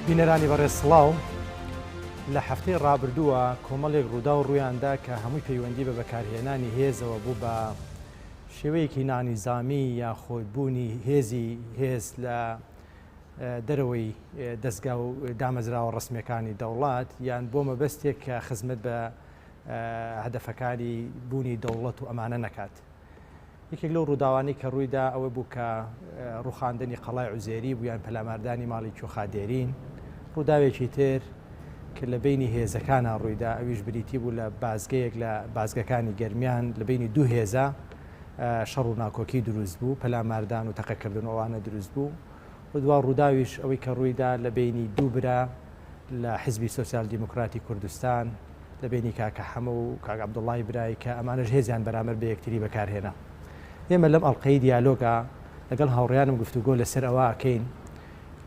بینەرانی بەڕێز سڵاو لە هەفتەی ڕابردووە کۆمەڵێک ڕوودا و ڕوویاندا کە هەمووی پەیوەندی بە بەکارهێنانی هێزەوە بوو بە شێوەیەکی نانیزامی یا خۆدبوونی هێزی هێز لە دەرەوەی دەستگا و دامەزراوە ڕسمەکانی دەوڵات یان بۆ مەبەستێک کە خزمەت بە هەدەفەکانی بوونی دەوڵەت و ئەمانە نەکات. یەکێک لەو ڕووداوانەی کە ڕوویدا ئەوە بوو کە ڕوخاندنی قەڵای عوزێری بوویان پەلاماردانی ماڵی کیۆخا دێرین ڕووداوێکی تر کە لە بینی هێزەکانە ڕوویدا ئەویش بریتی بوو لە بازگەیەک لە بازگەکانی گەرمیان لە بینی دوو هێزە شەڕ و ناکۆکی دروست بوو پەلاماردان و تەقەکردن ئەوانە دروست بوو و دوا ڕووداویش ئەوەی کە ڕوویدا لە بینی دوو برا لە حیزبی سۆسیال دیموکراتی کوردستان، لە بەینی کاکە حەمە و کاک عەبدوڵای برای کە ئەمانەش هێزیان بەرامبەر بە یەکتری بەکار هێنا. ئێمە لەم ئەڵقەی دیالۆگا لەگەڵ هاوڕێیانم گفتوگۆ لەسەر ئەوە ئەکەین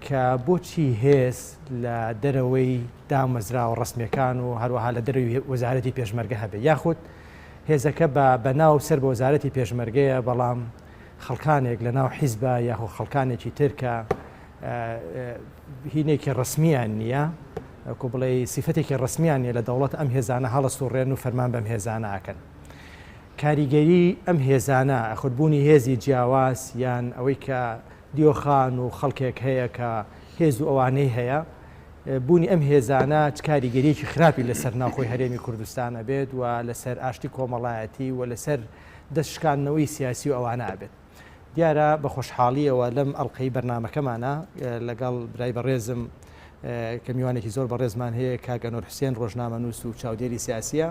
کە بۆچی هێز لە دەرەوەی دامەزراوە ڕەسمیەکان و هەروەها لە دەروی وەزارەتی پێشمەرگە هەبێ یاخود هێزەکە بە بەناو سەر بە وەزارەتی پێشمەرگەیە بەڵام خەڵکانێک لە ناو حیزبە یاخۆ خەڵکانێکی ترکە هینێکی ڕەسمیان نییە وەکو بڵێ سیفەتێکی ڕسمیان نیە لە دەوڵەت ئەم هێزانە هەڵست و ڕێن و فەرمان بەم هێزانە ئاکەن کاریگەری ئەم هێزانە ئەخودبوونی هێزی جیاواز یان ئەوەی کە دیۆخان و خەڵکێک هەیە کە هێز و ئەوانەی هەیە بوونی ئەم هێزانە کاریگەریەکی خراپی لەسەر ناوخۆی هەرێمی کوردستان ئەبێت و لەسەر ئاشتی کۆمەڵایەتی و لەسەر دەستشکاندنەوەی سیاسی و ئەوانە ئەبێت دیارە بە خۆشحاڵیەوە لەم ئەڵلقەی بەرنمەکەمانە لەگەڵ برای بەڕێزم کە میوانێکی زۆر بەڕێزمان هەیە کاگەنۆر حوسێن ڕۆژنامە نووس و چاودێری سیاسیە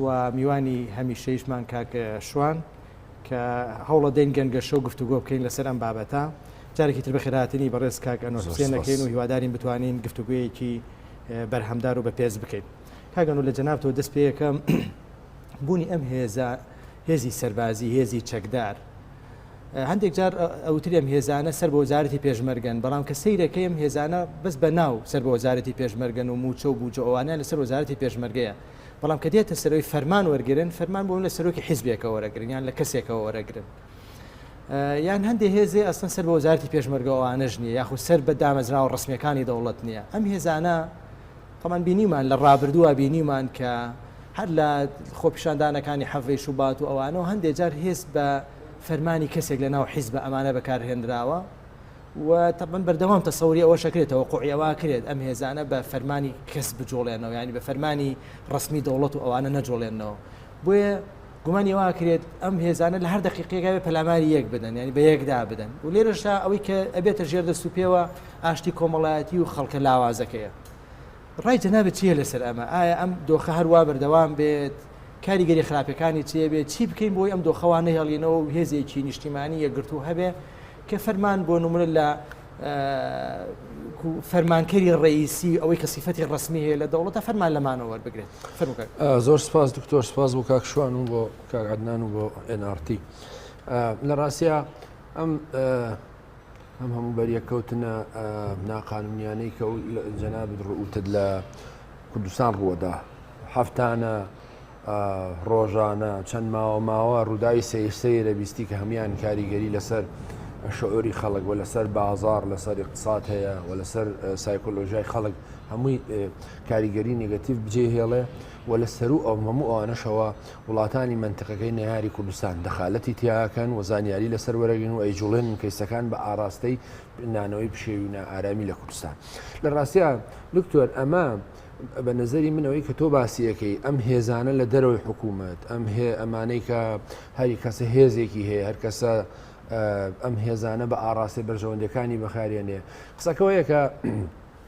و میوانی هەمیشەیشمان کاکە شوان کە هەوڵە دەین گەنگەشە و گفتوگۆ بکەین لەسەر ئەم بابەتە جارێکی تر بەخێراتنی بەڕێز کاگەنۆر حوسێنەکەین و هیوادارین بتوانین گفتوگویەکی بەرهەمدار و بە پێز بکەین کاگەن و لە جەنابەوە دەست پێەکەم بوونی ئەم هێزە هێزی سەربازی، هێزی چەکدار. هەندێک جار ئەوتری ئەم هێزانە سەر بە وەزارەتی پێشمەرگەن، بەڵام کە سەیرەکەی ئەم هێزانە بەس بە ناو سەر بە وەزارەتی پێشمەرگەن و مووچە و بووجە ئەوانەیان لەسەر وەزارەتی پێشمەرگەیە. بەڵام کە دێتە سەرەوەی فەرمان وەرگرن، فەرمان بۆ من لە سەرۆکی حیزبێکەوە وەرەگرن یان لە کەسێکەوە وەرەگرن. یان هەندێک هێزێ ئەسڵەن سەر بە وەزارەتی پێشمەرگە ئەوانەش نییە، یاخود سەر بە دامەزراوە ڕەسمییەکانی دەوڵەت نییە. ئەم هێزانە تەمان بینیمان لە ڕابردووە بینیمان کە هەر لە خۆپیشاندانەکانی حەڤەی شوبات و ئەوانەوە هەندێ جار هێست بە فەرمانی کەسێک لە ناو حیزبە ئەمانە بەکارهێنراوە و تەبەن بەردەوام تەسەوری ئەوە شەکرێتەوە قوعیەوە کرێت ئەم هێزانە بە فەرمانی کەس بجوڵێنەوە ینی بە فەرمانی ڕسمی دەوڵەت و ئەوانە نەجوڵێنەوە بۆیە گومانی وا کرێت ئەم هێزانە لە هەر دقیقێکاوێ پەلاماری یەک بدەن ینی بە یەکدا بدەن و لێرەشا ئەوەی کە ئەبێتە ژێردە سوپێوە ئاشتی کۆمەڵایەتی و خەڵکە لاوازەکەیە ڕای جەنابت چییە لەسەر ئەمە؟ ئایا ئەم دۆخە هەروا بەردەوام بێت؟ کاریگەری خراپەکانی چێ بێت؟ چی بکەین بۆی ئەم دۆخەوە نەهێڵینەوە و هێزێکی نیشتیمانی یەکگرتوو هەبێ کە فەرمان بۆ نمونە لە فەرمانکەری ڕئیسی ئەوەی کە سیفەتی ڕسمی هەیە لە دەوڵەتە فەرمان لەمانەوە وەربگرێت زۆر سپاس دکتۆر سپاس بۆ کاکشوان و بۆ کارعدنان و بۆ NRT لە ڕاستە ئەم ئەم هەموو بەریەککەوتنە ناقانونیانەی کە جەنابت ڕوتت لە کوردستان ڕووەدا هەفتانە ڕۆژانە چەند ماوە ماوە ڕووداوی سەیرسەی دەبیستی کە هەمان کاریگەری لەسەر شعۆری خەڵک و لەسەر بازار لەسەر اقتصاد هەیە و لەسەر سایکۆلۆژای خەڵک هەمووی کاریگەری نگەتیو بجێ هێڵێ و لە سەروو ئەو هەموو ئەوانەشەوە وڵاتانی مەنتقەکەی نەیاری کوردستان دەخالەتی تیاکەن و زانیاری لەسەر وەرەگرن و ئەیجوڵێنن کەیسەکان بە ئاڕاستەی نانەوەی پشێوی و نائارامی لە کوردستان لە ڕاستیا دکتۆر ئەمە بە نەزەری من ئەوەی کە تۆ باسیەکەی ئەم هێزانە لە دەرەوەی حکوومەت ئەم هێ ئەمانەی کە هەری کەسە هێزێکی هەیە هەر کەسە ئەم هێزانە بە ئاڕاستەی بەرژەوەندەکانی بەخارێنێ قسەکەەوەیەکە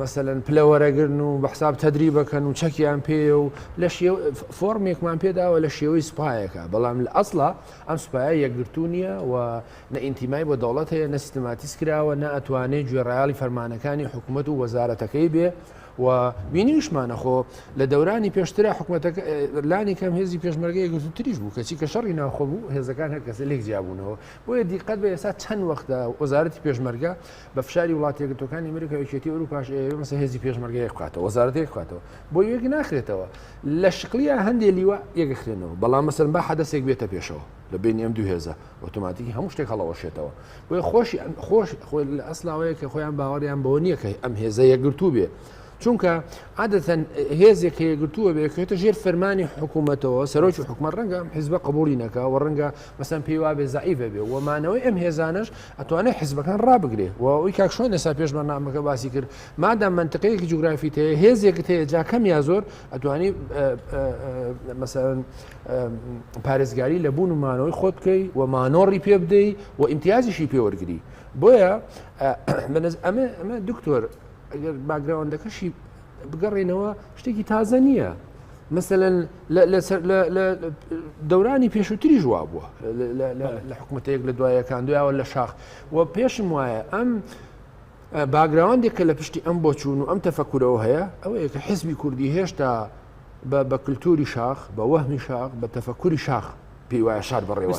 مەسەلەن پلە وەرەگرن و بە حساب تەدریبەکەن و چەکیان پێە و لە فۆرمێکمان پێداوە لە شێوەی سوپایەکە بەڵام لە ئەسڵا ئەم سوپایە یەکگرتو نییە و نە ئینتیمای بۆ دەوڵەت هەیە نە سیستماتیس کراوە نە ئەتوانێت گوێڕایاڵی فەرمانەکانی حکوومەت و وەزارەتەکەی بێ و بینیشمانە خۆ لە دەورانی پێشترا حکوومەتەکە لانی کەم هێزی پێشمەرگەی گرتوتریش بوو کەچی کە شەڕی ناخۆ بوو هێزەکان هەر کەسە لێک جیابوونەوە بۆیە دیقەت بە ئێستا چەند وەختە وەزارەتی پێشمەرگە بە فشاری وڵاتە یەکگرتووەکانی ئەمریکا یەکێتی ئەوروپاش ئەیەوێ مەسە هێزی پێشمەرگە یەک بخاتەوە وەزارەت یەک بخاتەوە بۆ یەک ناخرێتەوە لە شکلیە هەندێ لیوا یەکخرێنەوە بەڵام مەسەن با حەدەسێک بێتە پێشەوە لە بینی ئەم دوو هێزە ئۆتۆماتیکی هەموو شتێک هەڵەوەشێتەوە بۆیە خۆشی خۆش خۆی لە ئەسلاوەیە کە خۆیان باوەڕیان بەوە نییە کە ئەم هێزە یەکگرتوو بێ چونکە عادەتەن هێزێک کە یەگرتووە بێکێتە ژێر فەرمانی حکوومەتەوە سەرۆکی حکومە ڕەنگە حیزبە قبولی نەکە و ڕەنگە مەسەن پێی وابێ زعیبە بێ ومانەوەی ئەم هێزانش ئەتوانێت حزبەکان ڕابگرێ و ئەوی کاکشۆن لەسا پێش بەنامەکە باسی کرد مادا منتقەیەکی جوگرافی هەیە هێزێکت هەیە جاکەم یا زۆر ئەتوانی مەسەن پارێزگاری لە بوون و مانەوەی خۆت بکەی و مانۆڕی پێ بدەی و ئیمتیازیشی پێوەرگری بۆیە ئەمە دکتۆر ئەگەر باگراوەندەکەشی بگەڕێنەوە شتێکی تازە نییە مثلەن لە دەورانی پێشووتری ژوا بووە لە حکوومەتەیەک لە دوایەکان دویاوە لە شاخ و پێشم وایە ئەم باگراوەندێک کە لە پشتی ئەم بۆچوون و ئەم تەفەکورەوە هەیە ئەوە یەکە حزبی کوردی هێشتا بە کللتوری شاخ بە وەهمی شاخ بە تەفەکوری شاخ پێی وایە شار بەڕێوە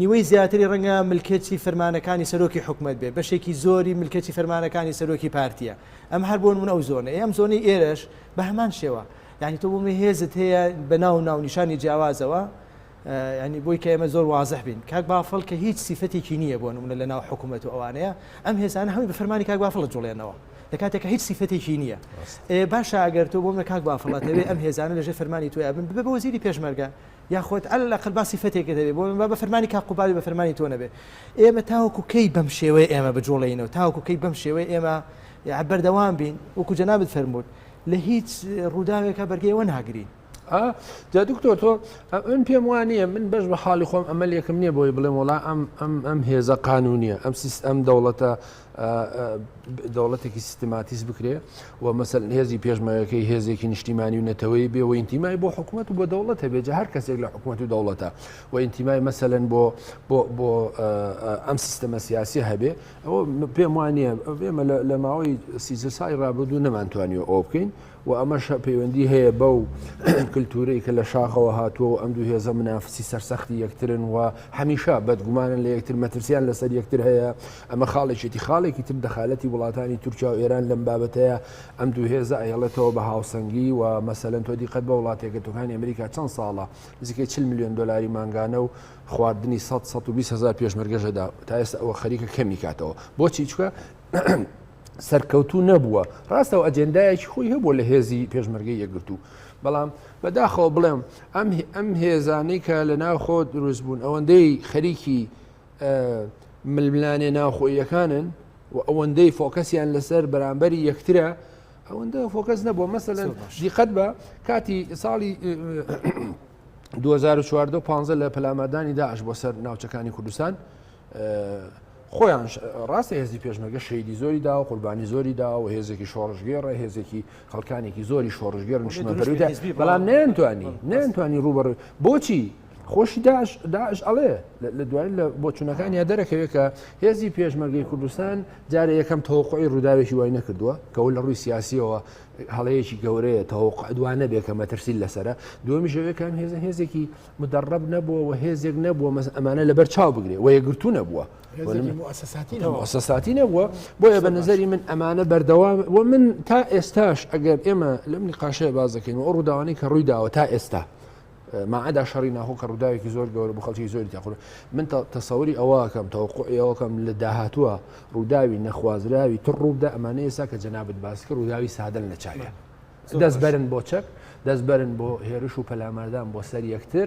نیوەی زیاتری رەنگە ملکەچی فرمانەکانی سەرۆکی حکومەت بێت بەشێکی زۆری ملکەچی فرمانەکانی سەرۆکی پارتیە ئەم هەر بۆن من ئەو زۆنە ئەم زۆنی ئێرەش بە هەمان شێوە یعنی تۆ بۆمە هێزت هەیە بە ناو ناو نیشانی جیاوازەوە ینی بۆی کە ئێمە زۆر وازح بین کاک بافڵ کە هیچ سیفەتێکی نییە بۆ نمونە لە ناو حکوومەت و ئەوانەیە ئەم هێزانە هەمی بە فەرمانی کاک بافڵە جوڵێنەوە لە کاتێکە هیچ سیفەتێکی نییە باشە ئەگەر تۆ بۆمە کاک بافڵاتەوێ ئەم هێزانە لەژێ فەرمانی تویا بن ببە بۆ وەزیری پێشمەرگە یاخود علی الاقل با سیفەتێکت هەبێ بۆ با بە فەرمانی کاک قوبادی بە فەرمانی تۆ نەبێ ئێمە تاوەکو کەی بەم شێوەیە ئێمە بجوڵێینەوە تاوەکو کەی بەم شێوەیە ئێمە یع بەردەوام بین وەکو جەنابت فەرمووت لە هیچ ڕووداوێکە بەرگەیەوە ناگرین جا دکتۆر تۆ من پێم وانە من بەش بە حاڵی خۆم ئەمەلێکم نییە بۆی بڵێم وڵا ئەم ئەم ئەم هێزە قانونیە ئەم سیست ئەم دەوڵەتە دەوڵەتێکی سیستماتیس بکرێ و مەسەل هێزی پێشمەرەکەی هێزێکی نیشتیمانی و نەتەوەی بێ و ئینتیمای بۆ حکوومەت و بۆ دەوڵەت هەبێت هەر کەسێک لە حکوومەت و دەوڵەتە و ئینتیمای مەسەلەن بۆ بۆ ئەم سیستەمە سیاسی هەبێ ئەوە پێم وانە ئێمە لە ماوەی سیزە سای ڕابردوو نەمانتوانی ئەو بکەین و ئەمەش پەیوەندی هەیە بەو کلتورەی کە لە شاخەوە هاتووە و ئەم دوو هێزە منافسی سەرسەختی یەکترن و هەمیشە بەدگومانن لە یەکتر مەترسیان لەسەر یەکتر هەیە ئەمە خاڵێکێتی خاڵێکی تر دەخالەتی وڵاتانی تورکیا و ئێران لەم بابەتەیە ئەم دوو هێزە ئەیڵێتەوە بە هاوسەنگی و مەسەلەن تۆ دیقەت بە وڵاتێکەکانی ئەمریکا چەند ساڵە نزیکەی چل میلیۆن دلاری مانگانە و خواردنی 100 120 هزار پێشمەرگەژەدا تا ئێستا ئەوە خەریکە کەمی کاتەوە بۆچی چکە سەرکەوتوو نەبووە ڕاستە و ئەجێندایەکی خۆی هەبووە لە هێزی پێشمەرگەی یەکگرتوو بەڵام بەداخەوە بڵێم ئەم ئەم هێزانەی کە لە ناوخۆ دروست بوون ئەوەندەی خەریکی ململانێ ناوخۆیەکانن و ئەوەندەی فۆکەسیان لەسەر بەرامبەری یەکترە ئەوەندە فۆکەس نەبووە مەسەن دیقەت بە کاتی ساڵی 2014 لە پەلامادانی داعش بۆ سەر ناوچەکانی کوردستان خۆیانش ڕاستە هێزی پێشمەرگە شەیدی زۆری دا و قوربانی زۆری دا و هێزێکی شۆڕژگێڕە هێزێکی خەڵکانێکی زۆری شۆڕژگێر نیشتمەپەرویدا بەڵام نەیانتوانی نەیانتوانی ڕوبەڕ بۆچی خۆشی داش داش ئەڵێ لە دوای لە بۆچوونەکان یا دەرەکەوێت کە هێزی پێشمەرگی کوردستان جارە یەکەم تەوقعی ڕووداوێکی وای نەکردووە کەەوە لە ڕووی سیاسیەوە هەڵەیەکی گەورەیە تەوق دوانە بێ کە مەترسی لەسرە دومیشەوەکان هێزە هێزێکی مدرب نەبووە و هێزێک نەبووە مەس ئەمانە لەبەر چاو بگرێ و یەکگرتوو نەبووە سەساتی نەبووە بۆیە بە نظری من ئەمانە بەردەوام و من تا ئێستاش ئەگەر ئێمە لەم نقاشەیە باز دەکەین و ئەو ڕووداوانی کە ڕووی داوە تا ئێستا ماعدا شەڕی ناهۆ کە ڕووداوێکی زۆر گەورە بە خەڵکی زۆری تاخور من تەسەوری ئەوەکەم تەوەقعەوەکەم لە داهاتوە ڕووداوی نەخوازراوی تڕووبدا ئەمانە ئێسا کە جەنابەت باسکە ڕووداوی سادن لە چاە دەست بەرن بۆ چەک دەست بەرن بۆ هێرش و پەلاماردان بۆ سەر یەکتر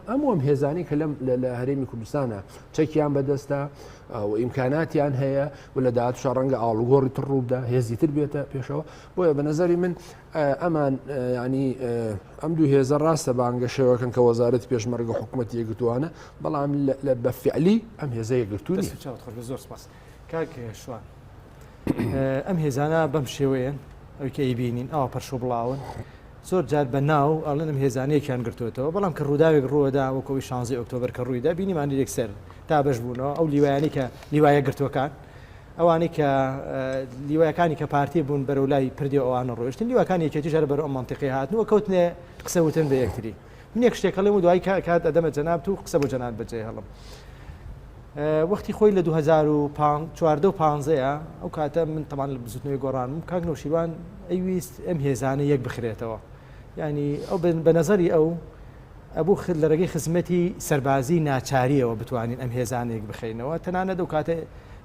ئەم ئەم هێزانی کە لەم لە هەرێمی کوردستانە چەکیان بەدەستە و ئیمکاناتیان هەیە و لە داات شەڕەنگە ئاڵوگۆڕی تر ڕووبدا هێزی تر بێتە پێشەوە بۆیە بە نظری من ئەمان ینی ئەم دوو هێزە ڕاستە بانگە شێوەکەن کە وەزارەت پێشمەرگە حکوومەت یەگرتووانە بەڵام لە بەفعلی ئەم هێزە یەگرتوونی زۆر سپاس. کاک شوان ئەم هێزانە بەم شێوەیەن ئەوی کە ئەیبینین ئەوە پەرشۆ بڵاون زۆر جار بە ناو ئەڵێن ئەم هێزانەیەکیان گرتوێتەوە بەڵام کە ڕووداوێک ڕووەدا وەکەوەی شانزی ئۆکتۆبر کە ڕوویدا بینیمانی یەکسەر تا بەش بوونەوە ئەو لیوایانی کە لیوایە گرتوەکان ئەوانەی کە لیوایەکانی کە پارتی بوون بەرەو لای پردی ئەوانە ڕۆشتن لیوەکانی یەکێتی ژەر بەرەو منتیقی هاتنەوە کەوتنێ قسەوتن بە یەکتری من یەک شتێک هەڵێم و دوایی کە کات ئەدەمە جەنابت و قسە بۆ جەنابت بەجێ هەڵم وەختی خۆی لە 2014 و 15ەیە ئەو کاتە من تەمان لە بزوتنەوەی گۆڕانم کاک نەوشیروان ئەویست ئەم هێزانە یەک بخرێتەوە ینی ئەو بە نەزەری ئەو ئەبوو لە ڕێگەی خزمەتی سەربازی ناچاریەوە بتوانین ئەم هێزانێک بخینەوە تەنانە دەو کاتە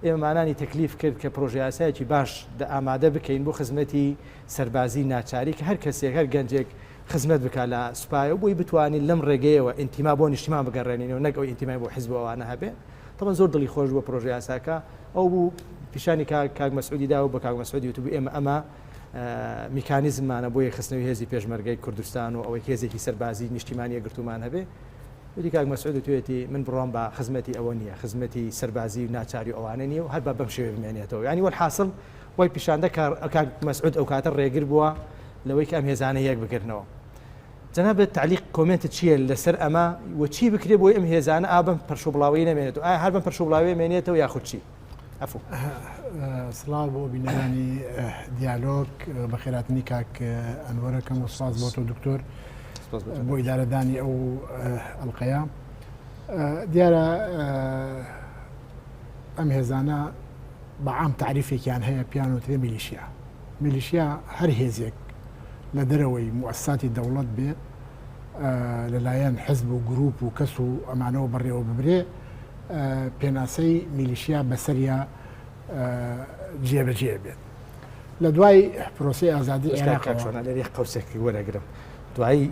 ئێمەمانانی تەکلیف کرد کە پرۆژیاسایکی باش دە ئامادە بکەین بۆ خزمەتی سەربازی ناچاری کە هەر کەسێک، هەر گەنجێک خزمەت بکات لە سوپایەوە بۆی بتوانین لەم ڕێگەیەوە ئینتیما بۆ نیشتیمان بگەڕێنینەوە نەک ئەو ئینتیمای بۆ حزب و ئەوانە هەبێ. تەبەن زۆر دڵی خۆش بوو پرۆژە یاساکە ئەو بوو پیشانی کاک کاک مەسعودی دا و بە کاک مەسعودی وتبوو ئێمە ئەمە میکانیزممانە بۆ یەکخستنەوەی هێزی پێشمەرگەی کوردستان و ئەوەی هێزێکی سەربازی نیشتیمانی یەکگرتوومان هەبێ وتی کاک مەسعود و توێتی من بڕوام بە خزمەتی ئەوە نییە خزمەتی سەربازی و ناچاری ئەوانە نییە و هەر بە بەم شێوێ بمێنێتەوە ینی وەحاصل وای پیشاندا کە کاک مەسعود ئەوکاتە ڕێگر بووە لەوەی کە ئەم هێزانە یەک بگرنەوە. جەنابت تەعلیق کۆمێنتت چییە لەسەر ئەمە و چی بکرێ بۆی ئەم هێزانە ئا بەم پەرشوبڵاوەیی نەمێنێتەوە ئایا هەر بەم پەرشوبڵاوەیە مێنێتەوە یاخود چی؟ عەفوو. سڵاو بۆ بینەرانی دیالۆگ بەخێراتنی کاک ئەنوەرەکەم و سپاس بۆ تۆ دکتۆر بۆ ئیدارەدانی ئەو ئەڵقەیە دیارە ئەم هێزانە بە عام تعریفێکیان هەیە پیان وترێ میلیشیا میلیشیا هەر هێزێک لە دەرەوەی موسساتی دەوڵەت بێ لەلایەن حزب و گروپ و کەس و ئەمانەوە بەڕێوە ببرێ پێناسەی میلیشیا بەسەریا جێبەجێ بێت لە دوای پرۆسی ئازادی عێراق قوسێکی وەرەگرم دوایی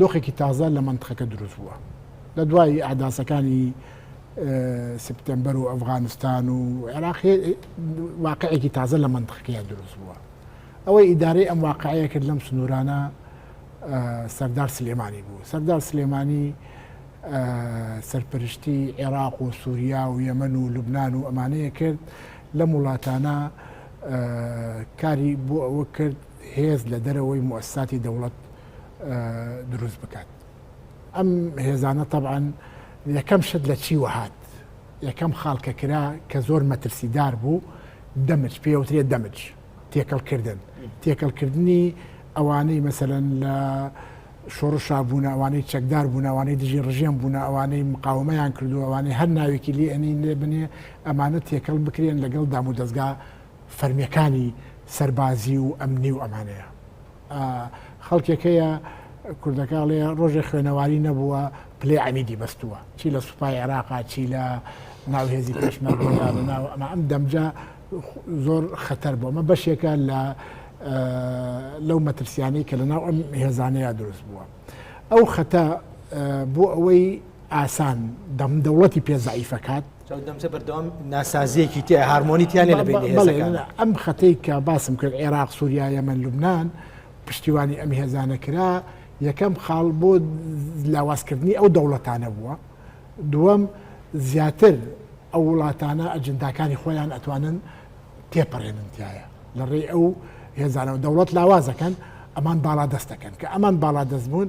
دۆخێکی تازە لە منتخەکە دروست بووە لە دوای ئاداسەکانی سپتمبەر و ئەفغانستان و عێراق واقعێکی تازە لە منتخەکەیان دروست بووە ئەوەی ئیدارەی ئەم واقعەیە کرد لەم سنوورانە سەردار سلێمانی بوو سەردار سلێمانی سەرپەرشتی عێراق و سووریا و یەمەن و لوبناان و ئەمانەیە کرد لەم وڵاتانە کاری بۆ ئەوە کرد هێز لە دەرەوەی موئەسساتی دەوڵەت دروست بکات ئەم هێزانە تەبعەن یەکەم شت لە چی وەهات یەکەم خاڵکە کرا کە زۆر مەترسیدار بوو دەمج پێوترێ دەمج تێکەڵکردن تێکەڵکردنی ئەوانەی مەسەرەن لە شۆڕشا بوون ئەوانەی چەکدار بوون ئەوانەی دژی ڕژێم بوون ئەوانەی مقاومەیان کردو ئەوانەی هەر ناوێکی لێ ئەنین لێ بنێ ئەمانە تێکەڵ بکرێن لەگەڵ دام و دەستگا فەرمیەکانی سەربازی و ئەمنی و ئەمانەیە خەڵکێک هەیە کوردەکەڵێ ڕۆژێ خوێنەواری نەبووە پلێ ئەمیدی بەستووە چی لە سوپای عێراقا چی لە ناوهێزی پێشمەرگەدا لە ناو ئەمە ئەم دەمجا زۆر خەتەر بۆ ئەمە بەشێکە لە لەو مەترسیانەی کە لە ناو ئەم هێزانەیە دروست بووە ئەو خەتە بۆ ئەوەی ئاسان دەم دەوڵەتی پێزعیفەکات چاودەمچە بەردەوام ناسازیەکی تیا هارمۆنی تیانە لە ئەم خەتەی کە باسم کرد عێراق سووریا یەمەن لوبناان پشتیوانی ئەم هێزانە کرا یەکەم خاڵ بۆ لاوازکردنی ئەو دەوڵەتانە بووە دووەم زیاتر ئەو وڵاتانە ئەجنداکانی خۆیان ئەتوانن تێپەڕێنن تایە لە ڕێ ئەو هێزانەوە دەوڵەت لاوازەکەن ئەمان باڵا دەستەکەن کە ئەمان باڵا دەست بوون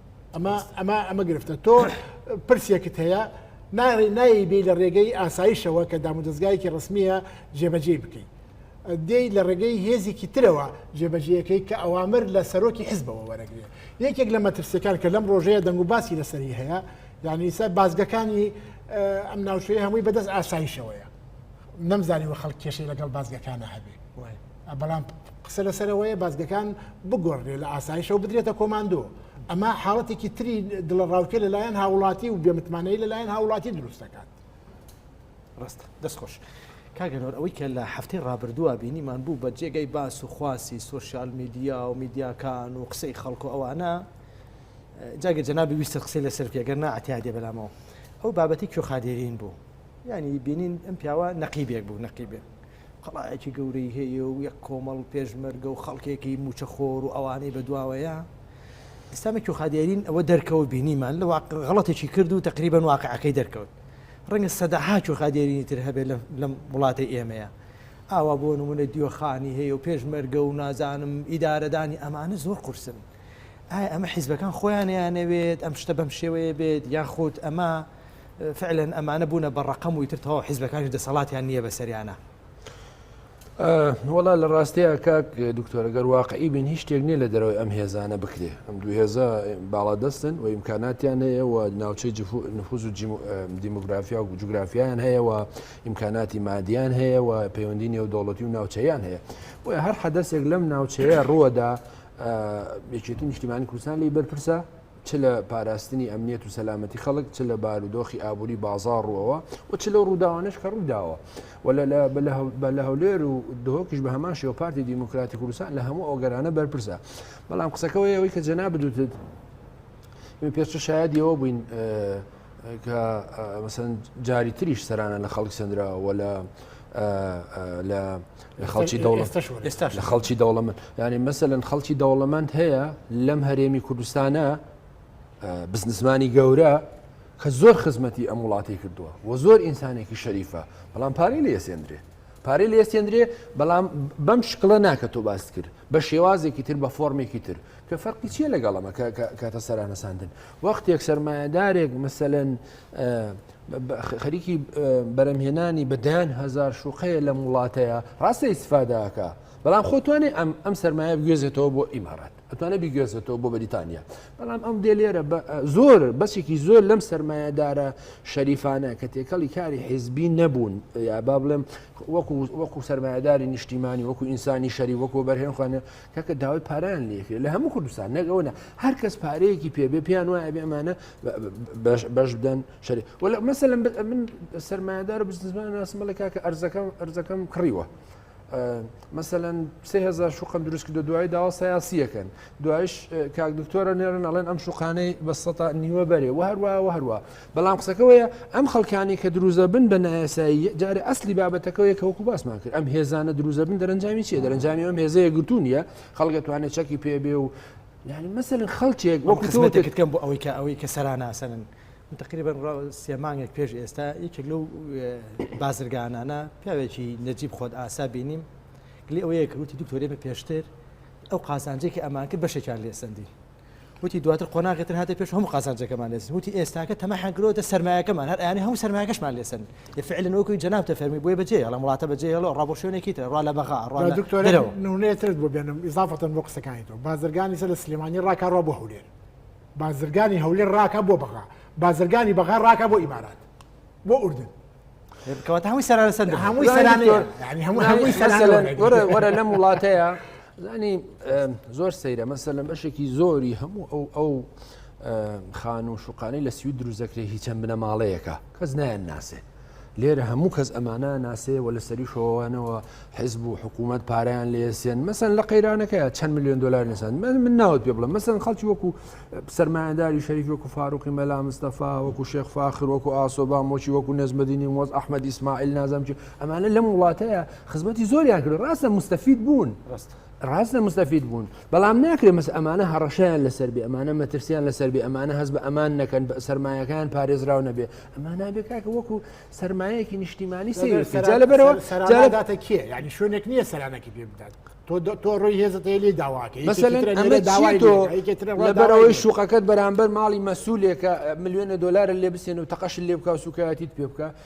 ئەمە ئەمە ئەمە گرفتە تۆ پرسێکت هەیە ناڕێ نایی بێ لە ڕێگەی ئاسایشەوە کە دام و دەستگایەکی ڕسمیە جێبەجێ بکەیت دێی لە ڕێگەی هێزێکی ترەوە جێبەجیەکەی کە ئەوامر لە سەرۆکی حزبەوە وەرەگرێ یەکێک لە مەترسیەکان کە لەم ڕۆژەیە دەنگ و باسی لەسەری هەیە یعنی سەر بازگەکانی ئەم ناوچەیە هەمووی بەدەست ئاسایشەوەیە نەمزانانی وە خەڵک کێشەی لەگەڵ بازگەکانە هەبێ وایە بەڵام قسە لەسەرەوەیە بازگەکان بگۆڕێ لە ئاسایشەوە بدرێتە کۆماندۆ ئەمە حاڵەتێکی تری دڵە ڕاوکە لەلایەن هاوڵاتی و بێمتمانەی لەلایەن هاوڵاتی دروست دەکات ڕاستە دەستخۆش. کاگەنۆر ئەوەی کە لە هەفتەی ڕابردووە بینیمان بوو بە جێگەی باس و خواسی سوسیال میدیا و میدیاکان و قسەی خەڵکو ئەوانە جاگە جەنابی ویستە قسەی لەسەر پێگەر ناتیادێ بەلامەوە ئەو بابەتی کوێخادێرین بوو ینی بینین ئەم پیاوە نەقیبێک بوو نەقیبێ قەڵایەکی گەورەی هەیە و یەک کۆمەڵ پێشمەرگە و خەڵکێکی موچە خۆر و ئەوانەی بە دواوەیە ئستامێک و خادیارین ئەوە دەرکەوە بینیمان لە واقع غڵەتێکی کرد و تقریبان واقعەکەی دەرکەوت ڕەنگە سەدەهاچ و خادێرینی تر هەبێت لەم وڵاتی ئێمەیە ئاوا بۆ نمونە دیۆخانی هەیە و پێشمەرگە و نازانم ئیدارەدانی ئەمانە زۆر قورسن ئایا ئەمە حیزبەکان خۆیانیانەوێت ئەم شتە بەم شێوەیە بێت یاخود ئەمە فعلەن ئەمانە بونە بە ڕەقەم و ئیتر تەواو حیزبەکانیش دەسەڵاتیان نییە بەسەریانا. وەڵا لە ڕاستەیە کاک دکتۆرە گەر واقعی بین هیچ شتێک نییە لە دەرەوەی ئەم هێزانە بکرێ ئەم دوو هێزە باڵادەستن و ئیمکاناتیان هەیە و ناوچەی نفوز و دیموگرافیا و جوگرافیان هەیە و ئیمکاناتی مادیان هەیە و پەیوەندی نێو دەوڵەتی و ناوچەیان هەیە بۆ هەر حەدەسێک لەم ناوچەیە ڕووەدا یەکێتی نیشتیمانی کوردستان لی بەرپرسە چ لە پاراستنی ئەمنیەت و سەلامەتی خەڵک چ لە بارودۆخی ئابووری بازار ڕوەوە و چ لە ڕووداوانش کە ڕووداوە بە لە هەولێر و دهۆکیش بە هەمان شێوە پارتی دیموکراتی کوردستان لە هەموو ئەوگەرانە بەرپرسە بەڵام قسەکەەوەی ئەوەی کە جەنا بدوتت پێشتر شایدیەوە بووین کە مەسەن جاری تریش سەرانە لە خەڵک سندراوە لە لە لە خەڵکی دەوڵەت ئێستاش لە خەڵکی دەوڵەمەند یعنی مەسەن خەڵکی دەوڵەمەند هەیە لەم هەرێمی کوردستانە بزنسمانی گەورە کە زۆر خزمەتی ئەم وڵاتی کردووە و زۆر ئینسانێکی شەریفە بەڵام پارەی لە ئێسێندرێ پارەی لە ئێسێندرێ بەڵام بەم شکڵە ناکە تۆ باست کرد بە شێوازێکی تر بە فۆرمێکی تر کە فەرقی چیە لەگەڵەمە کاتە سەرانەساندن وەختێک سرمایهدارێک مثلەن خەریکی بەرەمهێنانی بە دەیان هزار شوقەیە لەم وڵاتەیە ڕاستە ئیسفاداکە بەڵام خۆتوانێ ئەم ئەم سرمایە بگوێزێتەوە بۆ ئیمارات ئەتوانێت بگوێزێتەوە بۆ بەریتانیا بەڵام ئەم دێ لێرە زۆر بەسێکی زۆر لەم سرمایهدارە شەریفانە کە تێکەڵی کاری حیزبی نەبوون یا با بڵێم وەکو سرمایهداری نیشتیمانی وەکو ئینسانی شەری وەکو بەرهێنخواانە کەکە داوای پاران لێکرێت لە هەموو کوردستان نەگەونە هەر کەس پارەیەکی پێبێ پێیان وایە بێمانە بەش بدەن شەری وەل مەسە لەم من سەرمایهدار و بزنزمان ناسم بڵێ کاکە ئەرزەکەم ئەرزەکەم کڕیوە. مەمثلەن سهزار شوقم دروست کردو دوای داوا سیاسیەکەن دوایش کاک دکتۆرە نێرن ئەڵێن ئەم شوقانەی بە سەتا نیوە بەرێ و هەروە و هەروە بەڵام قسەکەەوەیە ئەم خەڵکانی کە دروزە بن بە نایەسایی جارە ئەسلی بابەتەکەەوەی کە وەکو باسمان کرد ئەم هێزانە دروزە بن دەرەنجامی چیە دەرەنجامی ئەم هێزەیە گرتوونیە خەڵگەتوانێت چەکی پێبێ و یعنی مەسەن خەڵکێک وەکو تۆکردکەم بۆ ئەوەی کە ئەوەی کە سەراناسەنن من تقریبان ڕاو سێمانێک پێش ئێستا یەکێک لەو بازرگانانە پیاوێکی نەجیب خۆت ئاسا بینیم گلی ئەوەیە کە وتی دکتۆری بە پێشتر ئەو قازانجێکی ئەمان کرد بەشێکیان لێسەندی وتی دواتر قۆناغێتر هاتە پێش هەموو قازانجەکەمان لێسن وتی ئێستاکە تەمە حەگرۆتە سرمایەکەمان هەر ئەیانی هەموو سرمایەکەشمان لێسن ئێ فعلن وەکوی جەنابتە فەرمی بۆیە بەجێ هێڵم وڵاتە بەجێ هێڵە ڕا بۆ شوێنێکی تر ڕا لە بەغا ڕا لە دکتۆر درەوە. نمونەیە ترت بۆ بێنم ئیزافەتەن بۆ قسەکانی تۆ بازرگانی سەر لە سلێمانی ڕاکا ڕا بۆ هەولێر بازرگانی هەولێر ڕاکا بۆ بەغا بازرگانی بەغا ڕاکا بۆ ئیمارات بۆ ئوردن کەواتە هەمووی سەرانە سەر هەمووی سەرانە یعنی هەموو هەمووی سەرانە وەرە- وەرە وەرە لەم وڵاتەیە زانی ئەم، زۆر سەیرە مەسەلەن بەشێکی زۆری هەموو ئەو ئەو ئەم، خان و شوقانەی لە سوید دروست دەکرێت هی چەند بنەماڵەیەکە کەس نایان ناسێ لێرە هەموو کەس ئەمانە ناسێ و لە سەری شۆوانەوە حزب و حکوومەت پاریان لێسێن مەسن لە قەیرانەکەی چەند میلیۆن دلار نسان من من ناوت پێ بڵم مەسن خەڵکی وەکو سرمایهداری شەریک وەکو فاروقی مەلا مستەفا وەکو شێخ فاخر وەکو ئاسۆبا مۆچی وەکو نەزمەدینی مۆز ئەحمد ئیسماعیل نازم چی ئەمانە لەم وڵاتەیە خزمەتی زۆریان کرد ڕاستە مستەفید بوون ڕاست ڕاست لە مستەفید بوون بەڵام ناکرێت مەس ئەمانە هەڕەشیان لەسەر بێ ئەمانە مەترسیان لەسەر بێ ئەمانە هەز بە ئەمان نەکەن سرمایەکان پارێزراو نەبێ ئەمان نابێ کاکە وەکو سرمایەکی نیشتیمانی سەرجا لە بەرەوە سەراداتە کێ ینی شوێنێک نییە سەرانەکی پێ بدات تۆ ڕۆی هێزتەیە لێ داواکەی لە بەرەوەی شوقەکەت بەرامبەر ماڵی مەسوولێکە میلیۆنە دلار لێ بسێن و تەقەش لێ بکە سوکایەتیت پێ بکە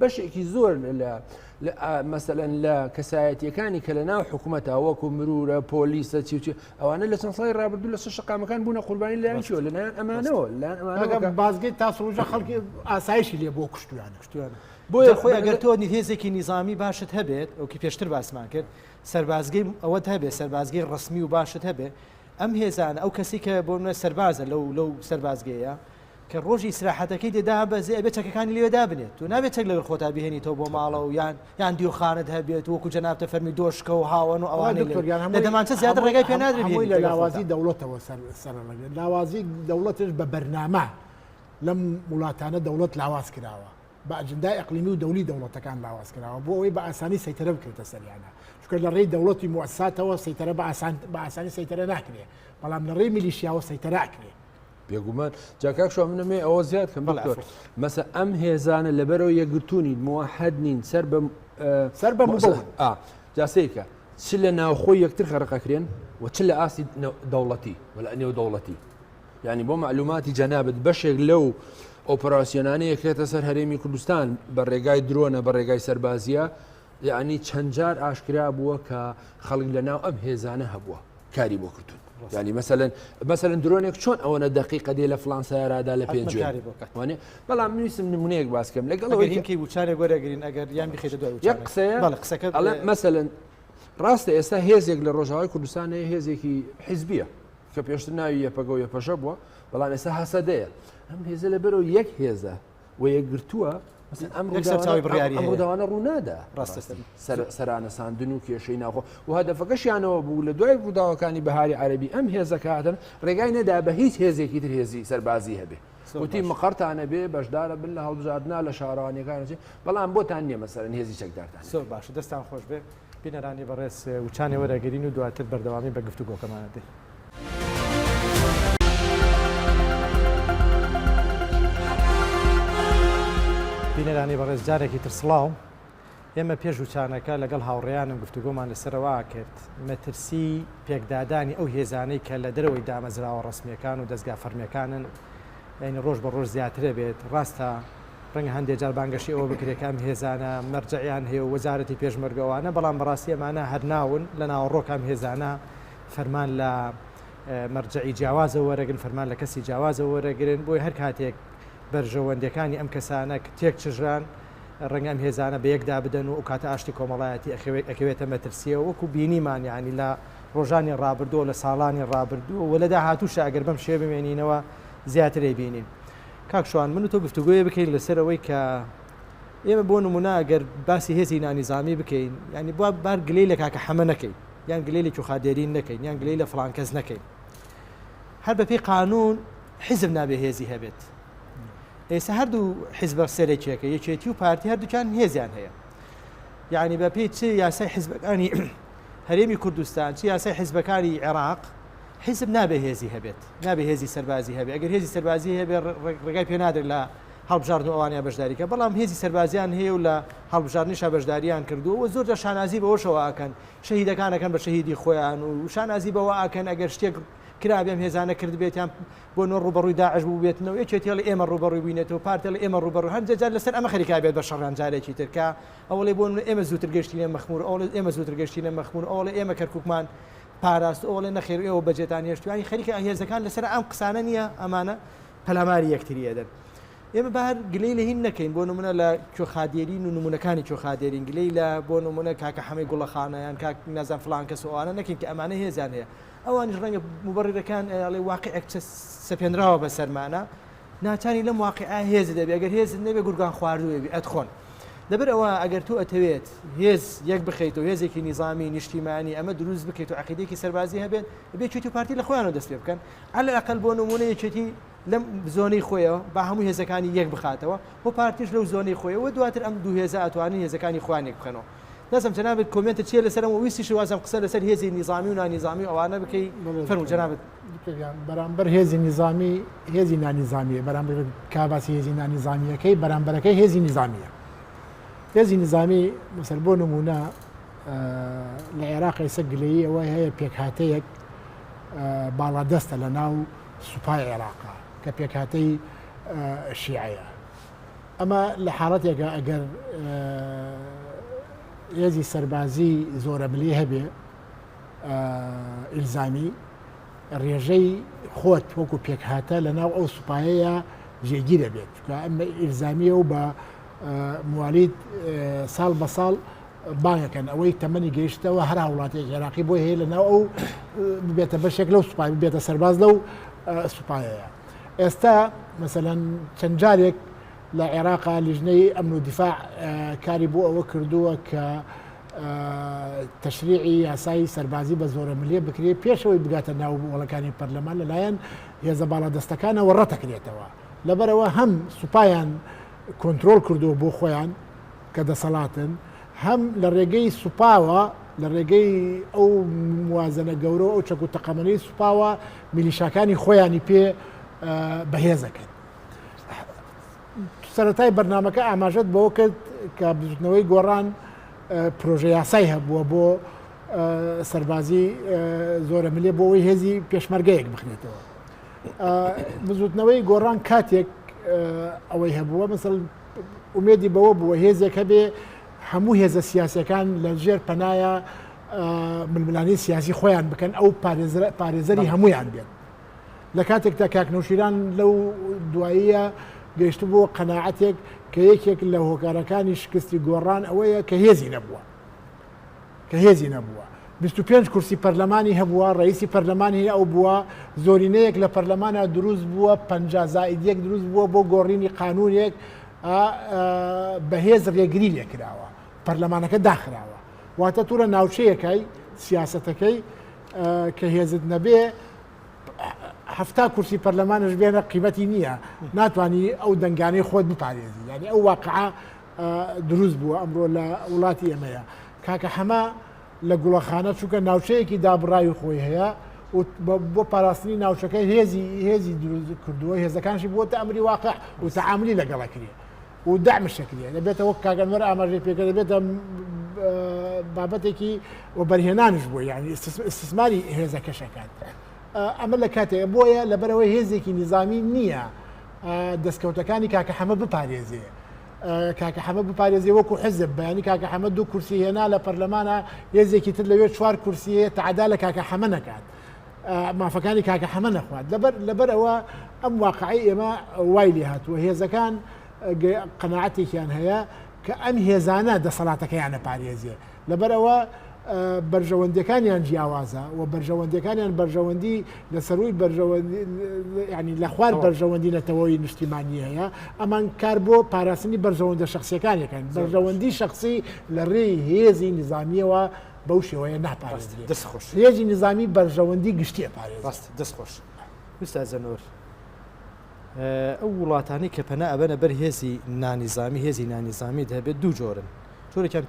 بەشێکی زۆر لە مەسەەن لە کەسایەتیەکانی کە لە ناو حکوومەت تاوەکو مرورە پۆلیسە چیوچی ئەوانە لە چەند سای ڕابردوو لە شش شقامەکان بوون قوربانی لایشەوە لە نایان ئەمانەوە لەگەم بازگەی تاسڕۆژە خەڵکی ئاسایشی لێ بۆ کوشتویان کوشتویان بۆیە خۆی ئەگەر تۆ هێزێکی نیزامی باشت هەبێت ئەوکی پێشتر باسمان کرد سەربازگەی ئەوەت هەبێت سەربازگەی ڕسمی و باشت هەبێت ئەم هێزانە ئەو کەسی کە بۆ منە سەربازە لەو لەو سەربازگەیە کە ڕۆژی ئیسراحەتەکەی دێ دابەزێ ئەبێ چەکەکانی لەوێ دابنێت تۆ نابێت چەک لەگەڵ خۆتا بهێنیتەوە بۆ ماڵەوە یان یان دیوخانەت هەبێت وەکو جەنابتە فەرمی دۆشکە و هاوەن و ئەوانەی لەوێ دکتۆر گیان هەمووی لە دەمانچە زیاتر هەمووی- ڕێگای پێ نادرێت هەمووی بهێنیت لە لەگەڵ لاوازی خۆتان. دەوڵەتەوە سەر سەرەڕەگرێت لاوازی دەوڵەتش بە بەرنامە لەم وڵاتانە دەوڵەت لاواز کراوە بە ئەجندای ئەقلیمی و دەولی دەوڵەتەکان لاواز کراوە بۆ ئەوەی بە ئاسانی سەیتەرە بکرێتە سەریانە چونکە لە ڕێی دەوڵەتی موساتەوە سەیتەرە بە ئاسان بە ئاسانی سەیتەرە ناکرێ بەڵام لە ڕێی میلیشیاوە سەیتەرە ئەکرێ بێگومان جاکاک شو منەمێ ئەوە زیاد کەم مەسە ئەم هێزانە لەبەرەوە یەکگرتوونی موحد نین سەر بە سەر بە جاسەیەکە چ لە ناوخۆی یەکتر خەرقەکرێن و چ لە ئاستی دەوڵەتی ولا نێو دەوڵەتی ینی بۆ معلوماتی جەنابەت بەشێک لەو ئۆپەراسسیۆنانەیە کرێتە سەر هەرێمی کوردستان بە ڕێگای درۆنە بە ڕێگای سەربازیە یەعنی چەند جار ئاشکرا بووە کە خەڵک لە ناو ئەم هێزانە هەبووە کاری بۆ کردوون ینی مەسەن مەسەن درۆنێک چۆن ئەوەنە دقیقە دێ لە فلانسەرادا لە پێ وانێ بەڵام نوویسم نمونەیەک باسکەم لەگەڵ هینکی وچارێ گۆرەگرین ئەگەر یان بخێتە دوای قسەیە قسەکە مەسەن ڕاستە ئێستا هێزێک لە ڕۆژاوای کوردستان هەیە هێزێکی حیزبیە کە پێشتر ناوی یەپەگە و یەپەژە بووە بەڵام ئێستا هەسەدەیە ئەم هێزە لە بەرەوە یەک هێزە و یەکگرتووە سەرچاوی بڕیاری هەموداوانە ڕوونادا ڕاستە سەرانە ساندن و کێشەی ناخۆ و هەدەفەکەشیانەوە بوو لە دوای ڕووداوەکانی بەهاری عەربی ئەم هێزەکاتن ڕێگای نەدا بە هیچ هێزێکی تر هێزی سەربازی هەبێ وتی مقڕتانە بێ بەشدارە بن لە هەڵبژاردنا لە شارانەکانەچێ بەڵام بۆتان نیە مەسەرن هێزی چەکدارتان سۆر باشە دەستان خۆش بێ بینەرانی بەڕێز وچانێ وەرئەگرین و دواتر بەردەوامی بە گفتوگۆکەمان ئەدەین. بینەرانی بەڕێز جارێکی تر سڵاو. ئێمە پێش وچانەکە لەگەڵ هاوڕێیانم گفتوگۆمان لەسەرەوە کرد مەترسی پێکدادانی ئەو هێزانەی کە لە دەرەوەی دامەزراوە ڕەسمیەکان و دەستگا فەرمیەکانن یعنی ڕۆژ بە ڕۆژ زیاترە بێت ڕاستە ڕەنگە هەندێ جار بانگەشەی ئەوە بکرێ کە ئەم هێزانە مەرجەعیان هەیە و وەزارەتی پێشمەرگە و ئەوانە، بەڵام بە ڕاستی ئەمانە هەر ناون، لە ناوەڕۆک ئەم هێزانە فەرمان لە مەرجەعی جیاوازەوە وەرەگرن، فەرمان لە کەسی جیاوازەوە وەرەگرن، بۆیە هەر کاتێک بەرژەوەندیەکانی ئەم کەسانە تێک چژران، ڕەنگە ئەم هێزانە بە یەک دابدەن و ئەو کاتە ئاشتی کۆمەڵایەتی ئەخەوێت ئەکەوێتە مەترسیەوە، وەکو بینیمان یانی لە ڕۆژانی ڕابردووە، لە ساڵانی ڕابردووە و لە داهاتووشا ئەگەر بەم شێوە بمێنینەوە زیاتر ئەیبینین. کاک شوان من و تۆ گفتوگۆیە بکەین لەسەر ئەوەی کە ئێمە بۆ نمونە گەر باسی هێزی نانیزامی بکەین ینی بوا بار گلەی لە کاکە حەمە نەکەین یان گلەی لە کوخادێرین نەکەین یان گلەی لە فلانکەس نەکەین هەر بەپی قانون حزب نابێ هێزی هەبێت ئێستا هەردوو حزبە سەرێکیەکە یەکێتی و پارتی هەردووچان هێزیان هەیە یعنی بەپی چ یاسای حزبەکانی هەرێمی کوردستان چ یاسای حزبەکانی عێراق حیزب نابێ هێزی هەبێت نابێ هێزی سەربازی هەبێ ئەگەر هێزی سەربازی هەبێ ڕێگای پێ نادرێت لە هەڵبژاردن و ئەوانە بەشداریکە بەڵام هێزی سەربازیان هەیە و لە هەڵبژاردنیشا بەشداریان کردووە و زۆرجار شانازی بەوەشەوە ئەکەن شەهیدەکانەکەن بە شەهیدی خۆیان و شانازی بەوە ئاکەن ئەگەر شتێک کرابێم هێزانە کرد بێتیان بۆ نۆ ڕوبەڕووی داعش بوو بێتنەوە یەکێتیڵ ئێمە ڕوبەڕووی بووینێتەوە پارتێڵ ئێمە ڕوبەڕ هەندێجار لەسەر ئەمە خەریکا بێت بە شەڕان جارێکی ترکە ئەوڵێ بۆ ئێمە زووتر گەشتینە مەخمور ئەوڵێت ئێمە زووتر گەشتینە مەخمور ئەوڵێ ئێمە کەرککمان پاراست ئەو ئەڵێ نەخێر ئێوە بەجێتان هێشت توانی خەریکە هێزەکان لەسەر ئەم قسانە نییە ئەمانە پەلاماری یەکتری ئەدەن ئێمە بار گلەی لە هین نەکەین بۆ نمونە لە کوێخادێرین و نمونونەکانی کوێخادێرین گلەی لە بۆ نمونە کاکە حەمەی گوڵەخانەیان کاک نازان فلان کەس ئەوانە نەکەین کە ئەمانە هێزان هەیە ئەوانیش ڕەنگە مبڕیرەکان ئەڵێ واقعێک سەپێنراوە بە سەرمانە ناتانی لەم واقیعە هێزت ئەبێ ئەگەر هێزت نەبێ گورگان خواردوو ئەبی ئەتخۆن لەبەر ئەوە ئەگەر تۆ ئەتەوێت هێز یەک بخەیتەوە هێزێکی نیزامی نیشتیمانی ئەمە دروست بکەیت و عقیدێکی سەربازی هەبێت ئەبێ چێتی و پارتی لە خۆیانەوە دەست پێ بکەن على الاقل بۆ نمونە یەکێتی لەم زۆنەی خۆیەوە با هەموو هێزەکانی یەک بخاتەوە و پارتیش لەو زۆنەی خۆیەوە دواتر ئەم دوو هێزە ئەتوانین هێزەکانی خوان یەک بخەنەوە نازم جنابت کۆمنتت چیە لەسەرم ویستی شوازم قسە لەسەر هێزی نیزامی و نانیزامی ئەوانە بکەی فەرمو جنابت بەرامبەر هێزی نیزامی هێزی نانیزامیە بەرامبەر کاباسی هێزی نانیزامیەکەی بەرامبەرەکەی هێزی نیزامیە هێزی نیزامی مسەر بۆ نمونە لە عێراق ئێسە گلەیی ئەوە هەیە پێکهاتەیەک باڵادەستە لە ناو سوپای عێراقا کە پێکهاتەی شیعەیە ئەمە لە حاڵەتێکە ئەگەر هێزی سەربازی زۆرە ملی هەبێ ئیلزامی ڕێژەی خۆت وەکو پێکهاتە لە ناو ئەو سوپایەیە جێگی دەبێت چکە ئەم ئیلزامیە و بە موالید ساڵ بە ساڵ بانەکەن ئەوەی تەمەنی گەیشتەوە هەر وڵاتێک عێراقی بۆ هەیە لە ناو ئەو بێتە بەشێک لەو سوپای بێتە سەرباز لەو سوپایەیە ئێستا مەسەەن چەند جارێک لە عێراقا لیژنەی ئەمن و دیفاع کاری بۆ ئەوە کردووە کە تەشریعی یاسایی سەربازی بە زۆرە ملیە بکرێت پێشەوەی بگاتە ناو وڵەکانی پەرلەمان لەلایەن هێزە باڵادەستەکانەوە ڕەتەکرێتەوە لەبەرەوە هەم سوپایان کۆنتترۆل کردووە بۆ خۆیان کە دەسەڵاتن هەم لە ڕێگەی سوپاوە لە ڕێگەی ئەو موازنە گەورە ئەو چەک و تەقەمەنەی سوپاوە میلیشاکانی خۆیانی پێ بەهێزەکەن سەرەتای بەرنامەکە ئاماژەت بەوە کرد کە بزوتنەوەی گۆڕان پرۆژە یاسای هەبووە بۆ سەربازی زۆرە ملێ بۆ ئەوی هێزی پێشمەرگەیەک بخنێتەوە بزوتنەوەی گۆڕان کاتێک ئەوەی هەبووە مثل ئومێدی بەوە بووە هێزێک هەبێ هەموو هێزە سیاسەکان لە ژێر پەنایە ململانی سیاسی خۆیان بکەن ئەو پارێزەری هەمویان بێت لە کاتێکدا کاک نەوشیران لەو دواییە گەیشت بۆ قەنەعەتێک کە یەکێک لە هۆکارەکانی شکستی گۆڕان ئەوەیە کە هێزی نەبووە کە هێزی نەبووە 25 کورسی پەرلەمانی هەبووە ڕئیسی پەرلەمانی ئەو بووە زۆرینەیەک لە پەرلەمانە دروست بووە پ زائید یەک دروست بووە بۆ گۆڕینی قانونێک بەهێز ڕێگری لێکراوە پەرلەمانەکە داخراوە واتە تورە ناوچەیەکای سیاستەکەی کە هێزت نەبێ هەفتا کورسی پەرلەمانش بێنە قیمەتی نییە ناتانی ئەو دەنگانەی خۆت بپارێزی ینی ئەو واقعا دروست بووە ئەمڕۆ لە وڵاتی ئێمەیە کاکە حەما لە گوڵەخانە چووکە ناوچەیەکی دابڕاوی خۆی هەیە بۆ پاراستنی ناوچەکە هێزی هێزی دروست کردووە هێزەکانشی بۆتە ئەمری واقع و تعاملی لەگەڵەکرێت و دەعم شەکریە دەبێتە وەک کاک ئەنوەر ئاماژەی پێکرد دەبێتە بابەتێکی وەبەرهێنانش بووە یعنی استثماری هێزەکەش ئەکات ئەمە لە کاتێک بۆیە لەبەرەوەی هێزێکی نیزامی نییە دەستکەوتەکانی کاکە حەمە بپارێزێ کاکە حەمە بپارێزی وەکو حزب بەیانی کاکە حەمە دوو کورسی هێنا لە پەرلەمانە هێزێکی تر لەوێ چوار کورسیە تعدا لە کاکە حەمە نەکات مافەکانی کاکە حەمە نەخوات لەبەر لەبەر ئەوە ئەم واقعی ئێمە وای لێ هاتووە هێزەکان قەنەعاتێکیان هەیە کە ئەم هێزانە دەسەڵاتەکەیانە پارێزیێ لەبەر ئەوە بەرژەوەندەکانیان جیاوازە و بەرژەوەندەکانیان بەرژەوەندی لە سەروی ینی لە خوار بەرژەوەندی نەتەوەی نیشتیمانی هەیە ئەمان کار بۆ پاراستنی بەرژەوەندە شخصیەکانەکەن بەرژەوەندی شخصی لە ڕێی هێزی نظامیەوە بەو شێوەیە ناپارێزرێت. دەست خۆش. هێزی نیزامی بەرژەوەندی گشتی ئەپارێزێت. ڕاستە. دەست خۆش. ئوستاز زەنۆر ئەو وڵاتانەی کە پەنا ئەبەنە بەر هێزی نانیزامی هێزی نانیزامی دەبێت دوو جۆرن جۆرێکیان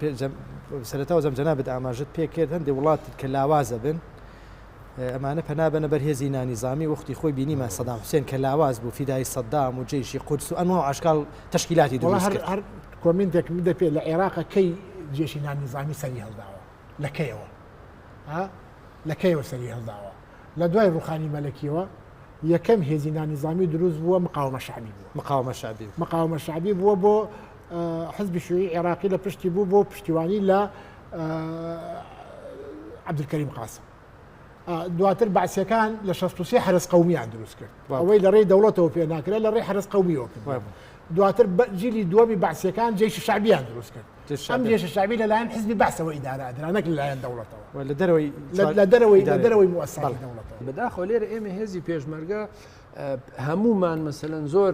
سەرتاوە زەم جەنابێت ئاماژت پێ کرد هەندێک وڵات کە لاوازە بن ئەمانە پەنا بەنە بەر هێزی نانیزامی وەختی خۆی بینیمان سەدام حوسێن کە لاواز بوو فیدایی سەدام و جەیشی قودس و ئەنواع و ئەشکال تەشکیلاتی دروست کرد. وەڵا هەر هەر کۆمینتێک بدە پێ لە عێراق کەی جێشی نانیزامی سەری هەڵداوە لە کەیەوە ها لە کەیەوە سەری هەڵداوە لە دوای ڕوخانی مەلەکیەوە یەکەم هێزی نانیزامی دروست بووە مقاومە شعبی بووە مقاومە شعبی مقاومە شعبی بووە بۆ حزبی شوعی عێراقی لە پشتی بوو بۆ پشتیوانی لە عبدکەریم قاسم دواتر باسیەکان لە 16 حرس قومیان دروست کرد ئەوەی لە ڕێی دەوڵەتەوە پێ ناکرێت لە ڕێی حرس قومیەوە کرد دواتر جیلی دووەمی باسیەکان جێش شعبیان دروست کرد ئەم جێش شعبی لەلایەن حزبی باسەوە ئیدارادرانەک لەلایەن دەوڵەتەوە لە دەرەوەی لە دەرەوەی لە دەرەوەی موساڵ دەوڵەتەوە بەداخۆ لێرە ئێمە هێزی پێشمەرگە هەمومان مەسەن زۆر